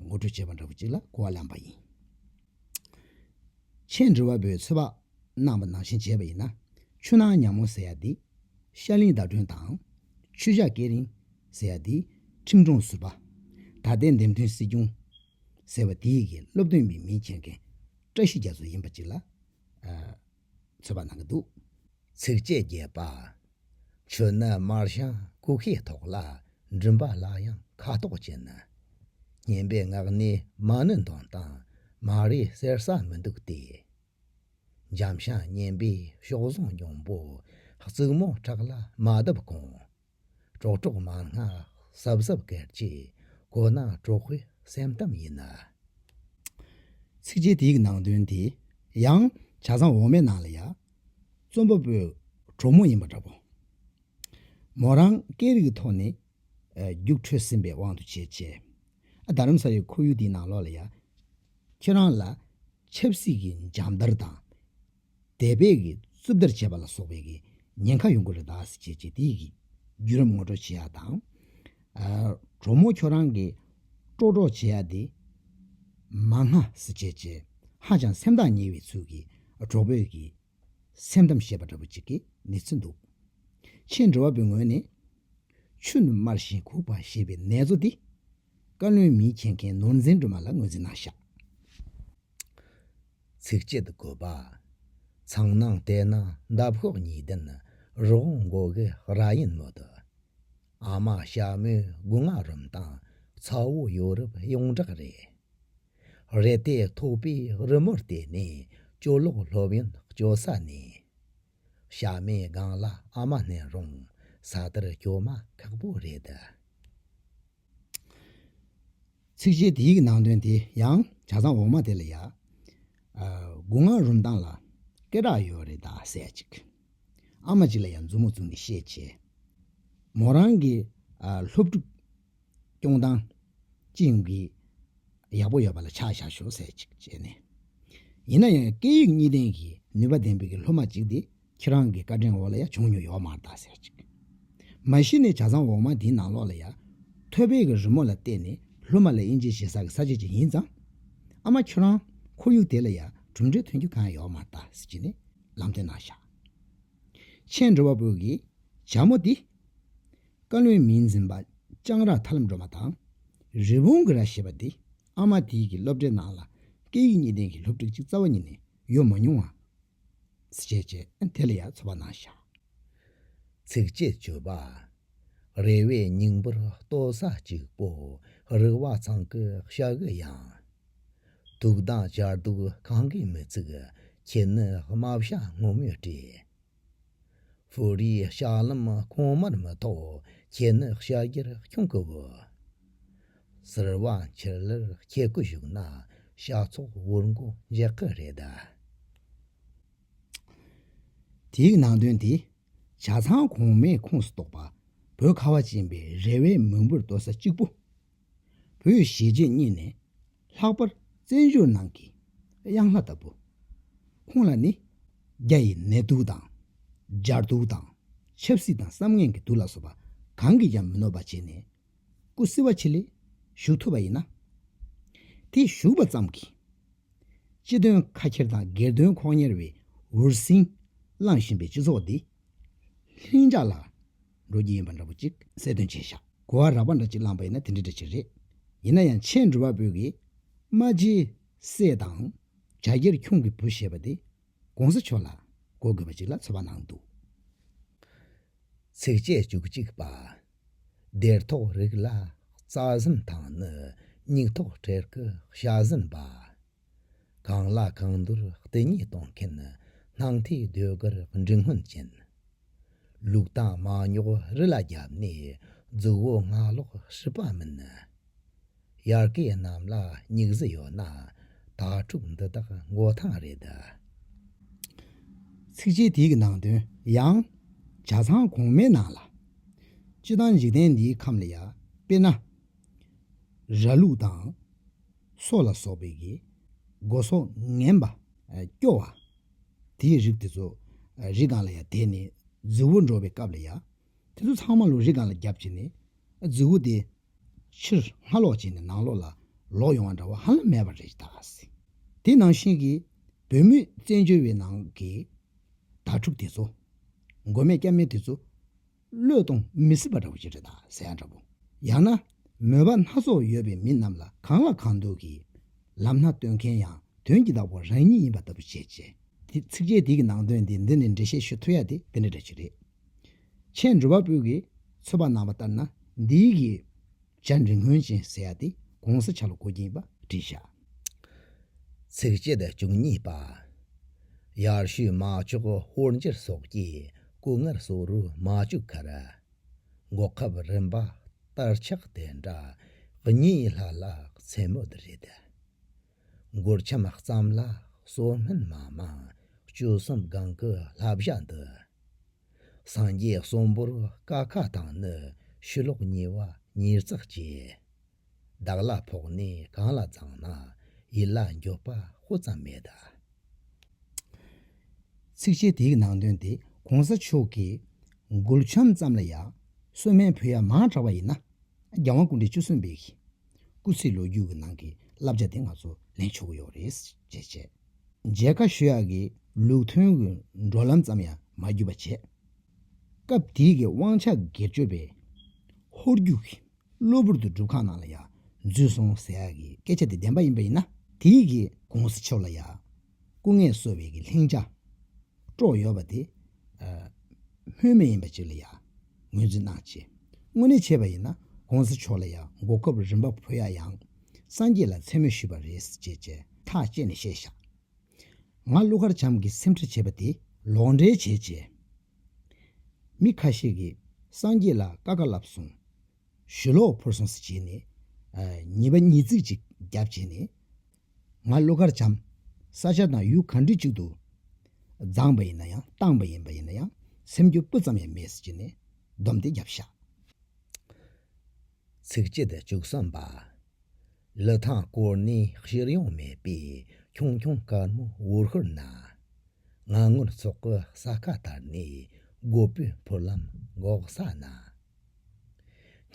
ངོ་སྤྲོད་བྱས་པ་འདྲ་བོ་ཅིག་ལ་གོ་བ་ལེན་པ་ཡིན། ཆེས་འབྲི་བ་པོའི་ཚོད་དཔག་རྣམ་པ་ནང་བཞིན་བྱས་པ་ཡིན་ན། ཆུ་ནང་ཉག་མོ་ཟེར་ཡ་འདི་ཤར་གླིང་ཟླ་སྒྲོན་དང། ཆུ་བྱ་སྐེ་རིང་ཟེར་ཡ་འདི་ཁྲིམས་སྒྲོང་ཟུར་པ། ད་ལྟའི་འདེམས་ཐོན་སྲིད་སྐྱོང་ཟེར་བ་འདི་ཡི་གེ་སློབ་སྟོན་པའི་མིང་ཁྱེར་མཁན་བཀྲ་ཤིས་རྒྱ་མཚོ་ཡིན་པ་གཅིག་ལ། ཚོད་པ་གནང་གི་འདུག་ཚིགས་བཅད་བརྒྱད་པ། ཆོས་ནི་དམར་ཞིང་བཀུག་ཤེས་ཐོག་ལ་འགྲིམ་པ་ལ་ཡང་ཁ་དོག་ཅན་ནི། སྙན་པའི་ངག་ནི་མ་ནུ་འདོན་དང་མ་རེ་གསེར་ས་མི་འདུག་སྟེ། འཇམ་ཞིང་སྙན་པའི་གཤོག་ཟུང་འགྱོང་པོ་རྩུབ་མོ་ཁྲག་ལ་མ་བརྡབས་གོང། གྲོགས་གྲོགས་མ་སྔགས་ཟབ་ཟབ་གལ་ཆེ། གོ་ན་གྲོགས་པོའི་སེམས་གཏམ་ཡིན་ན། ཚིགས་བཅད་དེ་ཡི་ནང་དོན་དེ་ཡང་བྱ་བཟང་འོ་མའི་ནང་ལ་ཡ། རྩོམ་པ་པོའི་གྲོགས་མོ་ཡིན་པ་འདྲ་པོ། མོ་རང་སྐད་རིགས་ཀྱི་ཐོག་ནས་རྒྱུགས་འཕྲོད་ཟིན་པའི་དབང་དུ་བྱས་ཆེ། རྡ་རམ་ས་ལའི་ཁོར་ཡུག་དེའི་ནང་ལོགས་ལ་ཡ། ཁྱེད་རང་ལ་ཆབ་སྲིད་ཀྱི་འཇམ་དར་དང། འདས་པའི་གི་རྩུབ་ལྟར་བྱས་པ་ལ་སོགས་པའི་གི་ཉེན་ཁ་ཡོང་གི་རེད་དཱ་ཞེས་བྱས་དེའི་གི་བརྒྱུད་རམ་ངོ་སྤྲོད་བྱེད་ཡག་དང། གྲོགས་མོ་ཁྱོད་རང་གི་སྤྲོ་གྲོགས་བྱེད་ཡག་འདི། མ་སྔ་ཟེར་བྱས་བྱས་ཧ་ཅང་སེམས་ཐག་ཉེ་བའི་ཚུལ་གི་གྲོགས་པོས་གི་སེམས་གཏམ་བཤད་པ་འདྲ་པོ་ཅིག་གི་ནི་ཚུན་འདུག། ཆེས་འགྲོ་བ་པོའི་ངོས་ནས། ཆུ་ནི་དམར་ཞིང་ཁུག་པ་ཞེས་པའི་ནེ་ཙོ་འདི། བཀའ་བློན་མིང་ཆེ་མཁན་ནོར་འཛིན་སྒྲོལ་མ་ལ་ངོས་འཛིན་གནང་ཤག། ཚིགས་བཅད་དགོད་པ། ཚངས་སྣང་ལྟས་ན་འདབ་གཤོག་ཉིས་ལྡན་རི་བོང་མགོ་གི་རྭ་ཡིན་མོད། ཨ་མ་ཞྭ་མོའི་སྒོ་ང་རུམ་དང་ཚ་བོ་ཡོ་རུབ་ཡོངས་གྲགས་རེད། རེ་ལྟས་ཐོགས་པའི་རི་མོར་བལྟས་ནས་ཅོ་ལོག་སློབ་ཡོན་སྤྱོད་ས་ནས། ཞྭ་མོའི་སྒང་ལ་ཨ་མ་བསྣན་རུང་ས་དེར་སྐྱོ་མ་ཁག་པོ་རེད། ཚིག་གཞི་དེའི་ནང་དོན་དེ་ཡང་བྱ་ཚང་འོག་མ་དེ་ལ་ཡག་སྒོ་ང་རུམ་སྟངས་ལ་སྐད་གྲགས་ཡོད་རེད་ད་ཟེར་ཅིག་ཨ་མ་ཅིག་ལ་ཡང་མཛུབ་མོ་བཙུགས་ནས་བཤད་བྱས། མོ་རང་གི་སློབ་ཕྲུག་སྐྱོང་སྟངས་ཅི་ཡིན་གྱི་ཡག་པོ་ཡོད་པ་ལ་ཆ་བཞག་ཞོག་ཟེར་ཅིག་བྱས་ནས། ཡིན་ན་ཡང་སྐད་ཡིག་གཉིས་ལྡན་གྱི་ནུས་པ་ལྡན་པའི་སློབ་མ་ཅིག་དེ། ཁྱེད་རང་གི་བཀའ་དྲིན་འོག་ལ་ཡ་བྱུང་མྱོང་ཡོད་མ་གདའ་ཟེར་ཅིག། མ་གཞི་ནས་བྱ་ཚང་འོག་མ་དེའི་ནང་ལོགས་ལ་ཡ། ཐོད་པའི་གི་རི་མོ་ལ་བལྟས་ནས་ལྷུ་མ་ལ་དབྱིན་ཇི་བྱེད་ས་གི་ས་བྱེད་ཅིག་ཡིན་ཙང། ཨ་མ་ཁྱོད་རང་ཁོར་ཡུག་དེ་ལ་ཡ་གྲུབ་འབྲས་ཐོན་རྒྱུ་གང་ཡང་ཡོད་མ་གདའ་ཟེར་གྱིས་ནས་ལམ་སྟོན་གནང་བཞག། མཆན་འབྲི་བ་པོ་གིས་བྱ་མོ་འདི། བཀའ་བློན་མིང་འཛིན་པ་ལྕང་ར་ཐར་ལམ་སྒྲོལ་མ་དང། རི་བོང་གི་རྭ་ཞེས་པ་འདི་ཨ་མ་དེའི་གི་སློབ་གྲྭའི་ནང་ལ་སྐད་ཡིག་གཉིས་ལྡན་གི་སློབ་ཕྲུག་ཅིག་རྩ་བ་ཉིད་ནས་ཡོད་མ་མྱོང་བ་ཞེས་བྱ་བ་དེ་ལ་ཡང་ཚོར་བ་སྣང་བྱ། ཚིག་ཅེས་བརྗོད་པ། རེ་བའི་སྙིང་པོར་ལྟོ་ས་གཅིག་པོ་རིག་བ་ཚང་གི་ཤ་གི་ཡང། དུག་དང་སྦྱར་དུག་གང་གིས་མི་ཚུགས་ཁྱེད་ནི་རྨ་བྱ་སྔོན་མོའི་སྐྲས། ཕུ་རིའི་ལྕགས་ལམ་གོང་མར་མི་ཐོགས་ཁྱེད་ནི་ཤ་རྒྱར་ཁྱུང་གི་བུ། སེར་བ་འཁྱེར་ལེར་ཁྱེད་སྐུ་བཞུགས་ན། ཤགས་ཚོགས་དབུར་མགོ་འཇགས་ཀི་རེད་དཱ། དེའི་ནང་དོན་དེ། བྱ་ཚང་གོང་མའི་ཁོངས་སུ་གཏོགས་པ། བོད་ཁ་བ་ཅན་པའི་རེ་བའི་མིང་པོར་འདོད་ས་གཅིག་པུ། བོད་གཞིས་བྱེས་གཉིས་ནས་ལྷག་པར་བཙན་བྱོལ་ནང་གི་གཡང་ལྷ་ལྟ་བུ། ཁོང་ལ་ནི་རྒྱ་ཡི་ནད་དུག་དང། སྦྱར་དུག་དང། ཆབ་སྲིད་དང་བསམ་ངན་གྱི་དུག་ལ་སོགས་པ་གང་གིས་ཀྱང་མི་གནོད་པ་བྱས་ནས། སྐུ་བསིལ་བ་ཆེ་ལས་བཞུགས་ཐུབ་པ་ཡིན་ན། དེ་བཞུགས་པ་ཙམ་གྱིས་སྤྱི་དོན་ཁ་ཁྱེར་དང་སྒེར་དོན་ཁོག་གཉེར་བའི་འུར་ཟིང་བསླངས་བཞིན་པའི་སྤྱི་ཚོགས་འདི་ལྷིང་འཇགས་ལ་འགྲོ་རྒྱུ་ཡིན་པ་འདྲ་པོ་གཅིག་གསལ་སྟོན་བྱས་བཞག་གོ་བ་རག་པ་འདྲ་གཅིག་བླངས་པ་ཡིན་ན་དེ་འདྲ་འདྲ་གཅིག་རེད། ཡིན་ན་ཡང་ཆེས་འགྲུལ་པ་པོ་གི་རྨ་རྗེས་སྲས་དང་ཇག་སྒེར་ཁྱུང་གི་བུ་ཞེས་པ་དེ་གོང་ས་མཆོག་ལ་གོ་དགོས་པ་ཅིག་ལ་ཚོར་བ་གནང་འདུག་ཚིགས་བཅད་བཅུ་གཅིག་པ། སྡེར་ཐོག་རིགས་ལ་རྩ་ཟན་དང་ནི་སྙིགས་ཐོག་སྤྲེལ་གི་ཤ་ཟན་པ། གང་ལ་གང་འདུལ་བལྟས་ཉེས་གཏོང་མཁན་སྣང་མཐའི་ཟློས་གར་འབྲིང་སྔོན་ཅན། ལུག་དང་མ་ཉོག་རི་ལ་བརྒྱབ་ནས་རྫུ་བོ་སྔགས་ལོག་ཤི་པ་མིན། དབྱར་སྐད་རྣམས་ལ་སྙིགས་བཟི་ཡོད་ན། དྭ་ཕྲུག་འདི་དག་མགོ་ཐང་རེད། ཚིགས་བཅད་དེའི་ནང་དོན་ཡང། བྱ་ཚང་གོང་མའི་ནང་ལ། སྤྱི་དང་འཇིག་རྟེན་འདིའི་ཁམས་ལ་ཡང། དཔེར་ན། ར་ལུག་དང། སོ་ལ་སོགས་པའི་གི། སྒོ་ཟོག་ངན་པ། སྐྱོ་བ། དེའི་རིགས་དེ་ཚོ། རི་སྒང་ལ་ཡང་དེད་ནས་རྫི་བོ་འགྲོ་བའི་སྐབས་ལ་ཡང། དེ་ཚོ་ཚང་མ་ལུག་རི་སྒང་ལ་རྒྱབ་བྱེད་ནས། རྫི་བོ་དེ། ཕྱིར་སྔ་ལོག་བྱས་ནས་ནང་ལོག་ལ་ལོག་ཡོང་བ་འདྲ་བ་ཧ་ལམ་མེད་པ་རེད་དཱ། དེ་ནང་བཞིན་གྱི་བོད་མི་བཙན་བྱོལ་བའི་ནང་གི་དྭ་ཕྲུག་དེ་ཚོ། མགོ་མེད་སྐྱ་མེད་དེ་ཚོ། བློས་གཏོང་མི་སྲིད་པ་འདྲ་བོ་ཞིག་རེད་དཱ་ཟེར་ཡ་འདྲ་བོ། ཡང་ན་མོས་པ་སྣ་ཚོགས་ཡོད་པའི་མི་རྣམས་ལ་གང་ལ་གང་འདུག་གི། ལམ་སྣ་སྟོན་མཁན་ཡང་དོན་གྱི་བདག་པོ་རང་ཉིད་ཡིན་པ་ལྟ་བུ་བྱེད། ཚིགས་བཅད་འདི་གི་ནང་དོན་འདི་འདི་ནས་འགྲེལ་བཤད་ཞུ་ཐུབ་ཡ་དེ་འདི་འདྲ་འདྲ་ཞིག་རེད། ཆེས་འགྲོ་བ་པོ་གིས་ཚོད་དཔག་གནང་བ་ལྟར་ན་འདིའི་གི་སྦྱར་འབྲི་སྔོན་ཅན་ཟེར་ཡག་སྟེ་གོང་ས་ཆ་ལ་གོ་གྱིན་པ་བྲིས་བཞག། ཚིགས་བཅད་བཅུ་གཉིས་པ། ཡར་ཞུས་མ་ཅོག་ཧོར་འཇིར་སོགས་ཀྱི་སྐུ་ངར་སོགས་རུ་མ་བཅུག་ཁར། འགོག་ཁབ་རིམ་པ་ལྟར་ཆགས་དེ་འདྲ་གཉིས་ལྷག་ལྷག་མཚན་མོ་དུ་རེད། མགུར་ཁྱམས་བརྩམས་ལ་གསོལ་སྨོན་མ་མང། བཅུ་གསུམ་སྒང་གི་ལྷ་བཞག་འདི། སངས་རྒྱས་གསུམ་པོར་ཀ་ཁ་དང་ནི་ཤུ་ལོག་གཉིས་བ་ཉིས་བརྩེགས་བཅས། བདག་ལ་ཕོག་ནས་གང་ལ་བརྫངས་ན་ཡིད་ལ་འགྱོད་པ་སྤུ་ཙམ་མེད། ཚིགས་བཅད་དེའི་ནང་དོན་དེ་གོང་ས་མཆོག་གིས་མགུར་ཁྱམས་བརྩམས་ལ་ཡང་གསོལ་སྨན་ཕུལ་ཡ་མང་དྲགས་པ་ཡིན་ན་རྒྱལ་དབང་སྐུ་འདྲེ་བཅུ་གསུམ་པའི། སྐུ་ཚེའི་ལོ་རྒྱུས་ཀྱི་ནང་གི་བསླབ་བྱ་དེ་ང་ཚོ་ལེན་ཆོག་གི་ཡོད་རེད། ཅེས་བཤད། མཇལ་ཁ་ཞུ་ཡག་གི་ལུགས་མཐུན་གྱི་འགྲོ་ལམ་ཙམ་ཡང་མ་བརྒྱུད་པ་བྱས། སྐབས་དེའི་གི་དབང་ཆ་སྒེར་གཅོད་པས་ཧོར་རྒྱུག་གིས་གློ་བུར་དུ་སྒྲུབ་ཁང་ནང་ལ་ཡང་འཛུལ་སོང་ཟེར་ཡག་གི་སྐད་ཆ་དེ་བདེན་པ་ཡིན་པ་ཡིན་ན། དེའི་གི་གོང་ས་མཆོག་ལ་ཡག་སྐུ་ལྔས་གསོལ་བའི་གི་ལྷིང་བྱ། སྤྲོ་ཡོ་བ་དེ། སྨོན་མེད་ཡིན་པ་ཅིག་ལ་ཡང། ངོས་འཛིན་གནང་བྱེད། དངོས་གནས་བྱས་པ་ཡིན་ན་གོང་ས་མཆོག་ལ་ཡང་འགོག་སྐབས་རིན་པ་བུ་ཡག་ཡང། སངས་རྒྱས་ལ་མཚན་སྨོད་ཞུས་པ་རེད་ཅེས་བཅས་ཐག་བཅད་ནས་བཤད་བཞག། ང་ཀླུ་མཁར་བྱམས་ཀྱི་སེམས་ཁྲལ་བྱེད་པ་དེ་ལོག་འགྲེལ་བྱས་བྱས། མི་ཁ་ཤས་ཀྱིས་སངས་རྒྱས་ལ་ཀ་ཀ་ལབ་སོང། ཞུ་ལོག་འཕུར་སོང་ཟེར་བྱས་ནས། ཉེས་པ་ཉིས་བརྩེགས་ཅིག་རྒྱབ་བྱས་ནས། ང་བློ་དཀར་བྱམས། ས་ཆ་དང་ཡུལ་ག་འདྲི་གཅིག་ཏུ། བརྫངས་པ་ཡིན་ན་ཡང་བཏང་པ་ཡིན་པ་ཡིན་ན་ཡང་སེམས་སྐྱོ་སྤུ་ཙམ་ཡང་མེད་ཟེར་གྱི་ནས་སྡོམ་དེ་རྒྱབ་ཤག། ཚིག་བཅད་བཅུ་གསུམ་པ། ལི་ཐང་སྐོར་ནས་ཤེར་ཡོང་མེད་པའི་ཁྱུང་ཁྱུང་དཀར་མོ་འུར་ཤོར་ན། ང་ངུར་ཚོགས་ཀྱི་ས་ཁ་དར་ནས་རྒོད་པོའི་འཕུར་ལམ་འགོག་ས་ན།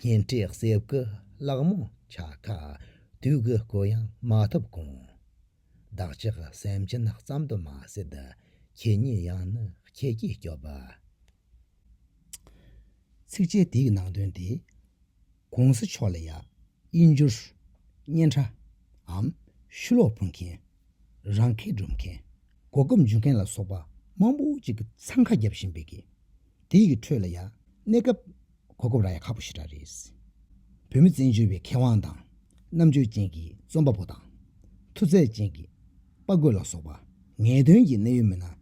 ཉེ་འཁྲིས་གསེབ་ཀྱི་གླག་མོ་ཆ་ཁ་དུས་ཀྱི་སྐུ་ཡང་མ་ཐོབ་གོང། བདག་ཅག་སེམས་ཅན་ཙམ་དུ་མ་ཟད་ཁྱེད་ཉིད་ཡང་ནི་ཁྱེད་ཀྱིས་སྐྱོབ། ཚིགས་བཅད་དེའི་ནང་དོན་དེ། གོང་ས་མཆོག་ལ་ཡང་དབྱིན་འགྱུར་སྙན་གྲྭའམ་ཤུ་ལོག་ཕུལ་མཁན་རང་ཁེ་སྒྲུབ་མཁན། གོ་སྐབས་འཇུ་མཁན་ལ་སོགས་པ་མང་པོ་ཅིག་གི་འཚང་ཁ་རྒྱབ་བཞིན་པའི་གི། དེ་ཡི་ཁྲོད་ལ་ཡང་གནས་སྐབས་གོ་སྐབས་རག་ཡ་ཁག་པོ་ཞིག་རག་རེད། བོད་མི་བཙན་བྱོལ་བའི་མཁས་དབང་དང་རྣམ་དཔྱོད་ཅན་གྱི་རྩོམ་པ་པོ་དང། མཐུ་རྩལ་ཅན་གྱི་དཔའ་རྒོད་ལ་སོགས་པ་ངེས་དོན་གྱི་གནད་ཡོད་མི་སྣ་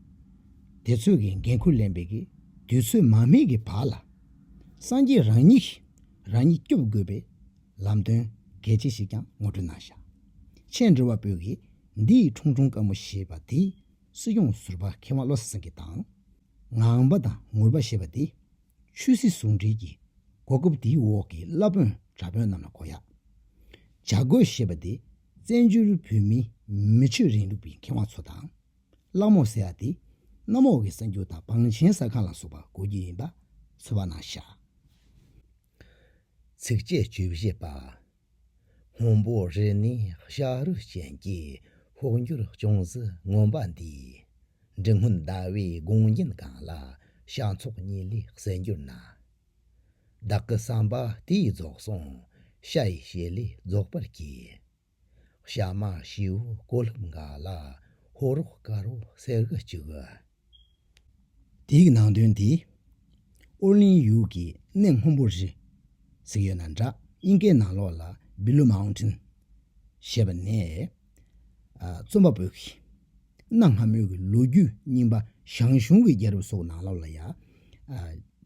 དེ་ཚོས་གི་འགན་ཁུར་ལེན་པའི་གི་དུས་ཚོད་མ་སྨིན་གི་བར་ལ། སངས་རྒྱས་རང་ཉིད་ཀྱིས་རང་ཉིད་སྐྱོབ་དགོས་པའི་ལམ་སྟོན་གལ་ཆེ་ཞིག་ཀྱང་ངོ་སྤྲོད་གནང་བཞག་ཆེས་འབྲེལ་བ་པོའི་གིས་འདི་ཡི་ཁྲུང་ཁྲུང་དཀར་མོ་ཞེས་པ་འདི་སྲིད་སྐྱོང་ཟུར་པ་མཁས་དབང་བློ་བཟང་སེང་གེ་དང། ངང་པ་དང་ངུར་པ་ཞེས་པ་འདི་ཆོས་སྲིད་ཟུང་འབྲེལ་གྱི་གོ་སྐབས་འདིའི་འོག་གི་བླ་དཔོན་གྲྭ་དཔོན་རྣམས་ལ་གོ་ཡག་བྱ་དགོས་ཞེས་པ་འདི་བཙན་བྱོལ་བོད་མིའི་མི་ཆོས་རིང་ལུགས་པའི་མཁས་དབང་ཚོ་དང། གླག་མོ་ཟེར་བ་འདི་གནམ་འོག་གི་གསར་འགྱུར་དང་བང་ཆེན་གསར་ཁང་ལ་སོགས་པར་གོ་རྒྱུ་ཡིན་པ་ཚོད་དཔག་གནང་བཞག། ཚིགས་བཅད་བཅུ་བཞི་པ། སྔོན་པོ་རི་ནི་ཤ་རུས་ཅན་གྱི་ཕོག་འགྱུར་ཅུང་ཟད་མངོན་པ་འདིས། འབྲི་སྔོན་ཟླ་བའི་དགོངས་རྒྱན་གང་ལ་ཤ་མཚོག་གཉིས་ལས་གསལ་འགྱུར་ན། བདག་གི་བསམ་པ་དེ་ཡིས་རྫོགས་སོང་ཤ་ཡི་བྱེད་ལས་རྫོགས་པར་གྱིས། བྱ་མ་བྱིའུ་བསྐོལ་ལྷུབ་འགའ་ལ། ཧོ་རོག་དཀར་བོ་གསེར་གྱི་བཅུད། དེ་ཡི་ནང་དོན་འདི། ཨོ་གླིང་ཡུལ་གྱི་གནས་སྔོན་པོ་རི། གཟིགས་ཡོད་ན་འདྲ་སྙིང་གའི་ནང་ལོགས་ལ Blue Mountain ཞེས་པ་ནས། རྩོམ་པ་པོས་གནའ་སྔ་མོའི་གི་ལོ་རྒྱུས་རྙིང་པ་ཞང་ཞུང་གི་རྒྱལ་རབས་སོགས་ནང་ལོགས་ལ་ཡ།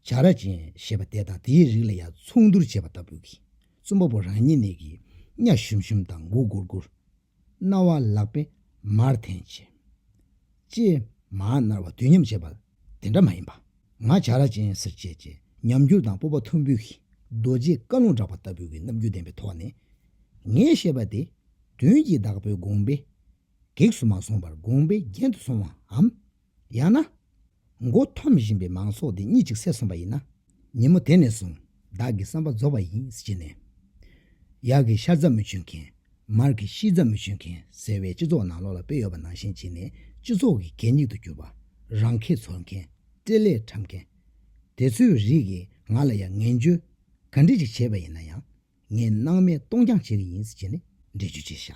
བྱ་ར་ཅན་ཞེས་པ་དེ་དང་དེའི་རིགས་ལ་ཡ་མཚུངས་བསྡུར་བྱས་པ་ལྟ་བུ་གིས་རྩོམ་པ་པོ་རང་ཉིད་ནས་ཀྱིས་གཉའ་ཞུམ་ཞུམ་དང་མགོ་སྒུར་སྒུར། རྣ་བ་ལག་པས་མར་འཐེན་བྱེད། ཅེས་མར་མནར་བ་དུས་མཉམ་བྱེད་པ་དེ་འདྲ་མ་ཡིན་པ། ང་བྱ་ར་ཅན་སེར་བྱེས་ཀྱི་ཉམས་འགྱུར་དང་སྤོབས་པ་ཐུམ་འབུད་ཀྱིས་རྡོ་རྗེའི་བཀའ་ལུང་བསྒྲགས་པ་ལྟ་བུའི་རྣམ་འགྱུར་ལྡན་པའི་ཐོག་ནས། ངས་བཤད་པ་དེ་དོན་གྱིས་བདག་པོའི་དགོངས་པའི་གེགས་སུ་མ་སོང་པར་དགོངས་པའི་རྒྱན་དུ་སོང་བའམ། ཡང་ན། མགོ་འཐོམ་བཞིན་པའི་མང་ཚོགས་འདི་གཉིད་ཅིག་སད་སོང་བ་ཡིན་ན། ཉིན་མོ་དེ་ནས་བཟུང་བདག་གི་བསམ་པ་རྫོགས་པ་ཡིན་ཅེས་ནས། གཡག་གི་ཤ་རྫ་མི་གཅོད་མཁན། མར་གི་ཤིས་རྫ་མི་གཅོད་མཁན་ཟེར་བའི་སྤྱི་ཚོགས་ནང་ལོག་ལ་དཔེ་ཡོད་པ་ནང་བཞིན་བྱས་ནས་སྤྱི་ཚོགས་ཀྱི་གད་སྙིགས་དུ་གྱུར་པ། རང་ཁེ་འཚོལ་མཁན། སྤྲེལ་ལད་འཁྲབ་མཁན། དེ་ཚོའི་རིགས་ཀྱིས་ང་ལ་ཡང་ངན་བརྗོད། ག་འདྲི་ཅིག་བྱས་པ་ཡིན་ན་ཡང་ངས་སྣང་མེད་གཏོང་རྐྱང་བྱེད་ཀྱི་ཡིན་ཟེར་ནས་འགྲེལ་བརྗོད་བྱས། ཤ་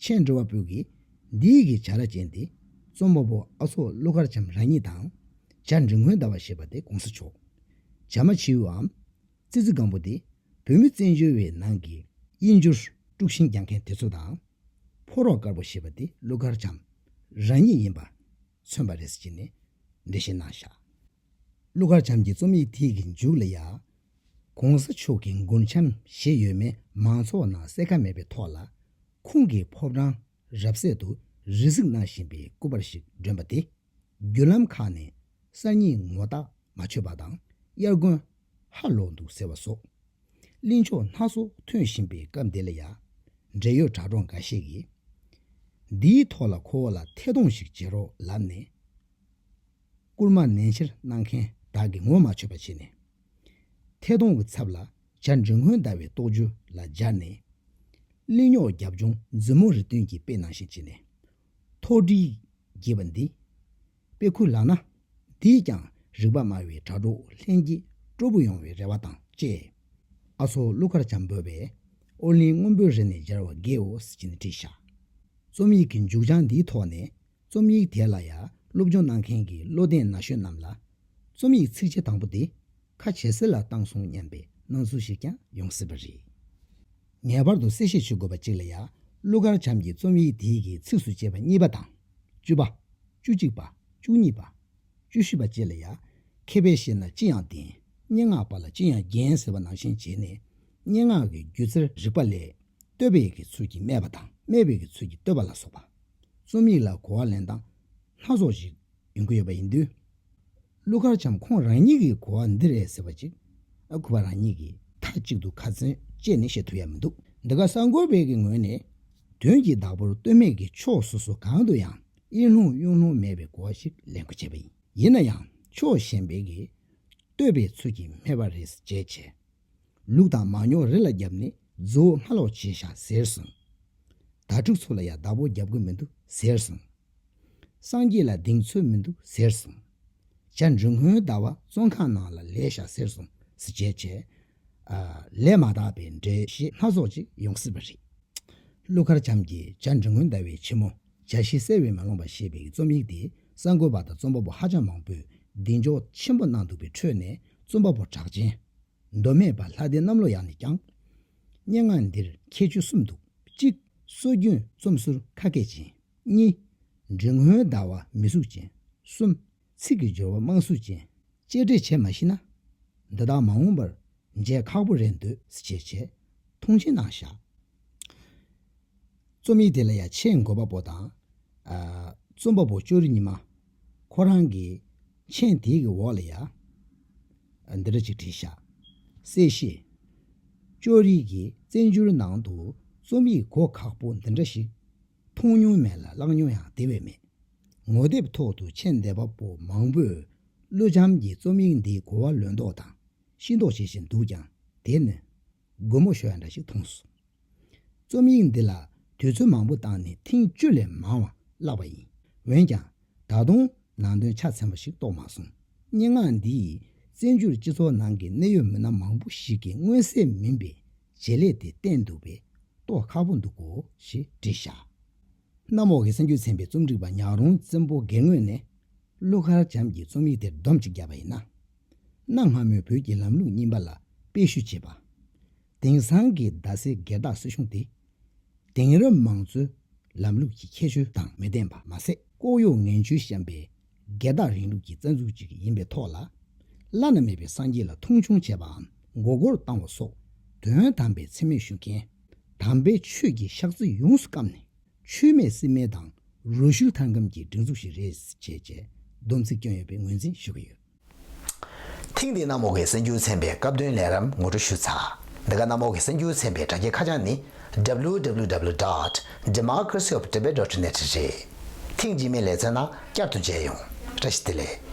ཆེན་འགྲོ་བ་པོ་གིས་འདི་ཡི་གི་བྱ་ར་ཅན་དེ་རྩོམ་པ་པོ་ཨ་ཚོགས་ཀླུ་མཁར་བྱམས་རང་ཉིད་དང། བྱ་འབྲི་མགོན་ཟླ་བ་ཞེས་པ་དེ་གོང་ས་མཆོག་བྱ་མ་བྱིའུའམ། ཙི་ཙི་སྒམ་པོ་དེ་བོད་མི་བཙན་བྱོལ་བའི་ནང་གི་དབྱིན་འགྱུར་དཀྲུག་ཤིང་རྒྱག་མཁན་དེ་ཚོ་དང། ཕོ་རོག་དཀར་པོ་ཞེས་པ་དེ་ཀླུ་མཁར་བྱམས་རང་ཉིད་ཡིན་པ། མཚོན་པ་རེད་ཟེར་གྱི་ནས་འགྲེལ་བཤད་གནང་བཞག་ཀླུ་མཁར་བྱམས་ཀྱི་རྩོམ་ཡིག་དེ་གི་མཇུག་ལ་ཡང། གོང་ས་མཆོག་གི་མགུར་འཆམ་ཞེས་ཡོད་མེད་མང་ཚོགས་ནང་གསལ་ཁ་མེད་པའི་ཐོག་ལ། ཁོང་གི་ཕོ་བྲང་རབ་གསལ་དུ་རི་གཟིགས་གནང་བཞིན་པའི་སྐུ་པར་ཞིག་བསྒྲོན་པ་དེ། བརྒྱུད་ལམ་ཁག་ནས་གསར་རྙིང་ངོ་རྟགས་མ་ཆོད་པ་དང་དབྱར་དགུན་ཧ་ལོག་འདུག་ཟེར་བ་སོགས། གླིང་ཕྱོགས་སྣ་ཚོགས་ཐོན་བཞིན་པའི་སྐབས་འདི་ལ་ཡང། འབྲེལ་ཡོད་དྲ་གྲོགས་འགའ་ཤས་ཀྱིས། འདིའི་ཐོག་ལ་ཁོ་བོ་ལ་ཐད་གཏོང་ཞིག་བྱེད་རོགས་ལབ་ནས། བསྐུར་མ་ནན་ཆེར་གནང་མཁན་དག་གིས་ངོ་མ་ཆོད་པ་བྱས་ནས། ཐད་གཏོང་གི་ཚབ་ལ་བྱ་འབྲི་སྔོན་ཟླ་བའི་རྟོགས་བརྗོད་ལ་སྦྱར་ནས། གླིང་རྙོག་རྒྱབ་ལྗོངས་འཛིན་མོ་རི་སྟོན་གྱིས་དཔེ་ནང་བཞིན་བྱས་ནས། མཐོ་སྒྲིལ། ཞེས་པ་འདི་དཔེ་ཁུར་ལགས་ན། འདིས་ཀྱང་རིག་པ་སྨྲ་བའི་དྲ་གྲོགས་ལྷན་རྒྱས་སྤྲོ་པོ་ཡོང་བའི་རེ་བ་དང་བཅས། ཨ་ཚོགས་ཀླུ་མཁར་བྱམས་བོད་པས་ཨོ་གླིང་སྔོན་པོའི་རི་ནས་སྦྱར་བ་དགེའོ་ཞེས་ནས་བྲིས་ཤག། རྩོམ་ཡིག་གི་མཇུག་བྱང་འདིའི་ཐོག་ནས་རྩོམ་ཡིག་དེ་ལ་ཡར་སློབ་སྦྱོང་གནང་མཁན་གྱི་བློ་ལྡན་ན་གཞོན་རྣམས་ལ། རྩོམ་ཡིག་ཚིགས་བཅད་དང་པོ་འདི་ཁ་ཇེ་གསལ་ལ་བཏང་སོང་སྙམ་པའི་སྣང་ཚུལ་ཞིག་ཀྱང་ཡོང་སྲིད་པ་རེད། ངེས་པར་དུ་གསལ་བཤད་བྱེད་དགོས་པ་གཅིག་ལ་ཡ་ཀླུ་མཁར་བྱམས་ཀྱི་རྩོམ་ཡིག་འདིའི་གི་ཚིགས་སུ་བཅད་པ་གཉིས་པ་དང། བཅུ་པ། བཅུ་གཅིག་པ། བཅུ་གཉིས་པ། བཅུ་བཞི་པ་བཅས་ལ་ཡ། མཁས་པའི་ཞལ་ན་ཅི་ཡང་བདེན། སྙན་ངག་པ་ལ་ཅི་ཡང་རྒྱན་ཟེར་བ་ནང་བཞིན་བྱས་ནས། སྙན་ངག་གི་སྒྱུ་རྩལ་རིག་པ་ལས། བསྟོད་པའི་གི་ཚུལ་གྱིས་སྨད་པ་དང་སྨད་པའི་གི་ཚུལ་གྱིས་བསྟོད་པ་ལ་སོགས་པ། རྩོམ་ཡིག་ལ་གོ་བ་ལེན་སྟངས་སྣ་ཚོགས་ཤིག་ཡོང་གི་ཡོད་པ་ཡིན་དུས། ཀླུ་མཁར་བྱམས་ཁོང་རང་ཉིད་ཀྱིས་གོ་བ་འདི་རེད་ཟེར་བ་ཅིག་གོ་བ་རང་ཉིད་ཀྱིས་མཐའ་གཅིག་ཏུ་ཁ་ཚོན་བཅད་ནས་བཤད་ཐུབ་ཡ་མི་འདུག་འདི་ག་གསར་འགོད་པའི་གི་ངོས་ནས་དོན་གྱི་བདག་པོར་ལྟོས་མེད་ཀྱི་ཕྱོགས་སོ་སོ་གང་དུ་ཡང་གཡེང་སློང་གཡུང་སློང་མེད་པའི་གོ་བ་ཞིག་ལེན་དགོས་བྱས་པ་ཡིན་ཡིན་ན་ཡང་ཕྱོགས་གཞན་པའི་གི་ལྟོས་པའི་ཚུལ་གྱིས་སྨྲས་པ་རེད་ཟེར་བྱས་བྱས་ལུག་དང་མ་ཉོག་རི་ལ་བརྒྱབ་ནས་རྫུའོ་སྔ་ལོག་བྱས་ཤག་ཟེར་སོང་ད་ཕྲུག་ཚོ་ལ་ཡ་བདག་པོ་བརྒྱབ་གི་མི་འདུག་ཟེར་སོང། སངས་རྒྱས་ལ་གདེང་ཚོད་མི་འདུག་ཟེར་སོང། བྱ་འབྲུག་སྔོན་ཟླ་བ་བཙོན་ཁང་ནང་ལ་ལས་བཞག་ཟེར་སོང་ཟེར་བྱས་བྱས། ལས་མ་དག་པའི་འགྲེལ་བཤད་སྣ་ཚོགས་ཅིག་ཡོང་སྲིད་པ་རེད། ཀླུ་མཁར་བྱམས་ཀྱིས་བྱ་འབྲུག་སྔོན་ཟླ་བའི་ཕྱི་མོ་བྱ་ཤི་གསལ་བས་མ་ལོངས་པ་ཞེས་པའི་རྩོམ་ཡིག་དེ་གསར་འགོད་པ་དང་རྩོམ་པ་པོ་ཧ་ཅང་མང་པོས་གདེང་འཇོག་ཆེན་པོ་གནང་འདུག་པའི་ཁྲོད་ནས་རྩོམ་པ་པོ་གྲགས་ཅན། མདོ་སྨད་པ་ལྷ་ལྡན་གནམ་ལོ་ཡག་ནས་ཀྱང། སྙན་ངག་འདིར་ཁྱད་ཆོས་གསུམ་འདུག་གཅིག། སྲོལ་རྒྱུན་རྩོམ་ཟུར་ཁ་སྐད་ཅན། གཉིས། འབྲི་སྔོན་ཟླ་བ་མི་གཟུགས་ཅན། གསུམ། ཚིག་གི་སྦྱོར་བ་དམངས་གཟུགས་ཅན། གཅེས་སྤྲས་བྱེད་མ་ཤེས་ན། འདི་དག་མ་འོངས་པར་མཇལ་ཁག་པོ་རེད་འདོད། བྱས་བྱས། མཐོང་ཆེན་གནང་བཞག། རྩོམ་ཡིག་དེ་ལ་ཡ་ཆེས་འགོད་པ་པོ་དང། རྩོམ་པ་པོ་ཅོ་རི་ཉི་མ། ཁོ་རང་གིས་མཆན་དེའི་གི་འོག་ལ་ཡ། འདི་འདྲ་ཅིག་བྲིས་བཞག། གསལ་བཤད། ཅོ་རི་གིས་བཙན་བྱོལ་ནང་དུ་རྩོམ་ཡིག་གོ་ཁག་པོ་འདི་འདྲ་ཞིག། མཐོང་མྱོང་མེད་ལ་བཀླགས་མྱོང་ཡང་དེ་བས་མེད། ངོ་དེབ་ཐོག་ཏུ་མཆན་འདེབས་པ་པོ་མང་པོས་ཀླུ་བྱམས་ཀྱི་རྩོམ་ཡིག་འདིའི་གོ་བ་ལོན་མདོག་དང་ཤི་མདོག་བྱེད་བཞིན་འདུག་ཀྱང་དེ་ནི། རྒོད་མོ་ཞོ་ཡ་འདྲ་ཞིག་མཐོང་སོང། རྩོམ་ཡིག་འདི་ལ་དུས་ཚོད་མང་པོ་བཏང་ནས་ཐེངས་བཅུ་ལས་མང་བ་བཀླགས་པ་ཡིན། འོན་ཀྱང། ད་དུང་ནང་དོན་ཆ་ཚང་བ་ཞིག་རྟོགས་མ་སོང། སྙན་ངག་འདིས་བཙན་བྱོལ་སྤྱི་ཚོགས་ནང་གི་གནད་ཡོད་མི་སྣ་མང་པོ་ཞིག་གི་མངོན་གསལ་མིན་པའི་བྱེད་ལས་དེ་བསྟན་འདུག་པས་རྟོགས་ཁག་པོ་འདུག་གོ་ཞེས་འབྲི་བཞག། གནམ་འོག་གི་གསང་རྒྱུད་ཚན་པའི་རྩོམ་སྒྲིག་པ་ཉག་རོང་བཙན་པོ་སྒེར་ངོས་ནས་ཀླུ་མཁར་བྱམས་ཀྱི་རྩོམ་ཡིག་དེར་བསྡོམས་གཅིག་བརྒྱབ་པ་ཡིན་ན། གནའ་སྔ་མོའི་བོད་ཀྱི་ལམ་ལུགས་རྙིང་པ་ལ་དཔེ་བཤུ་བྱེད་པ། དེང་སང་གི་རྡ་སའི་སྒེར་བདག་སྲིད་གཞུང་དེ། དེང་རབས་མང་གཙོའི་ལམ་ལུགས་ཀྱི་ཁྱད་ཆོས་དང་མི་ལྡན་པ་མ་ཟད། ལྐོག་གཡོ་ངན་བྱུས་བཤམས་པའི་སྒེར་བདག་རིང་ལུགས་ཀྱི་རྩ་འཛུགས་ཅིག་ཡིན་པའི་ཐོག་ལ། བླ་ན་མེད་པའི་སངས་རྒྱས་ལ་མཐོང་ཆུང་བྱས་པའམ་མགོ་སྐོར་བཏང་བ་སོགས་དོན་དམ་པའི་འཚེ་མེད་ཞུ་མཁན། དམ་པའི་ཆོས་ཀྱི་ཤག་རྩི་ཡོངས་སུ་བསྐམས་ནས་ཆོས་མེད་སྲིད་མེད་དང་རུལ་སུལ་ཐང་སྐམ་གྱི་སྒྲིག་འཛུགས་ཤིག་རེད་ཅེས་བསྡོམས་ཚིག་བསྐྱོན་ཡོད་པའི་ངོས་འཛིན་ཞུ་གི་ཡོད། ཐེངས་འདིའི་གནམ་འོག་གི་གསར་འགྱུར་ཚན་པའི་སྐབས་བསྟུན་ལས་རབས་ངོ་སྤྲོད་ཞུ་ཚགས། འདི་ག་གནམ་འོག་གི་གསར་འགྱུར་ཚན་པའི་དྲ་རྒྱའི་ཁ་བྱང་ནི། www.democracyofthetibettotibet.net། རེད། ཐེངས་རྗེས་མའི་ལས་འཚོལ་ན་བསྐྱར་དུ་མཇལ་ཡོང། བཀྲ་ཤིས་བདེ་ལེགས།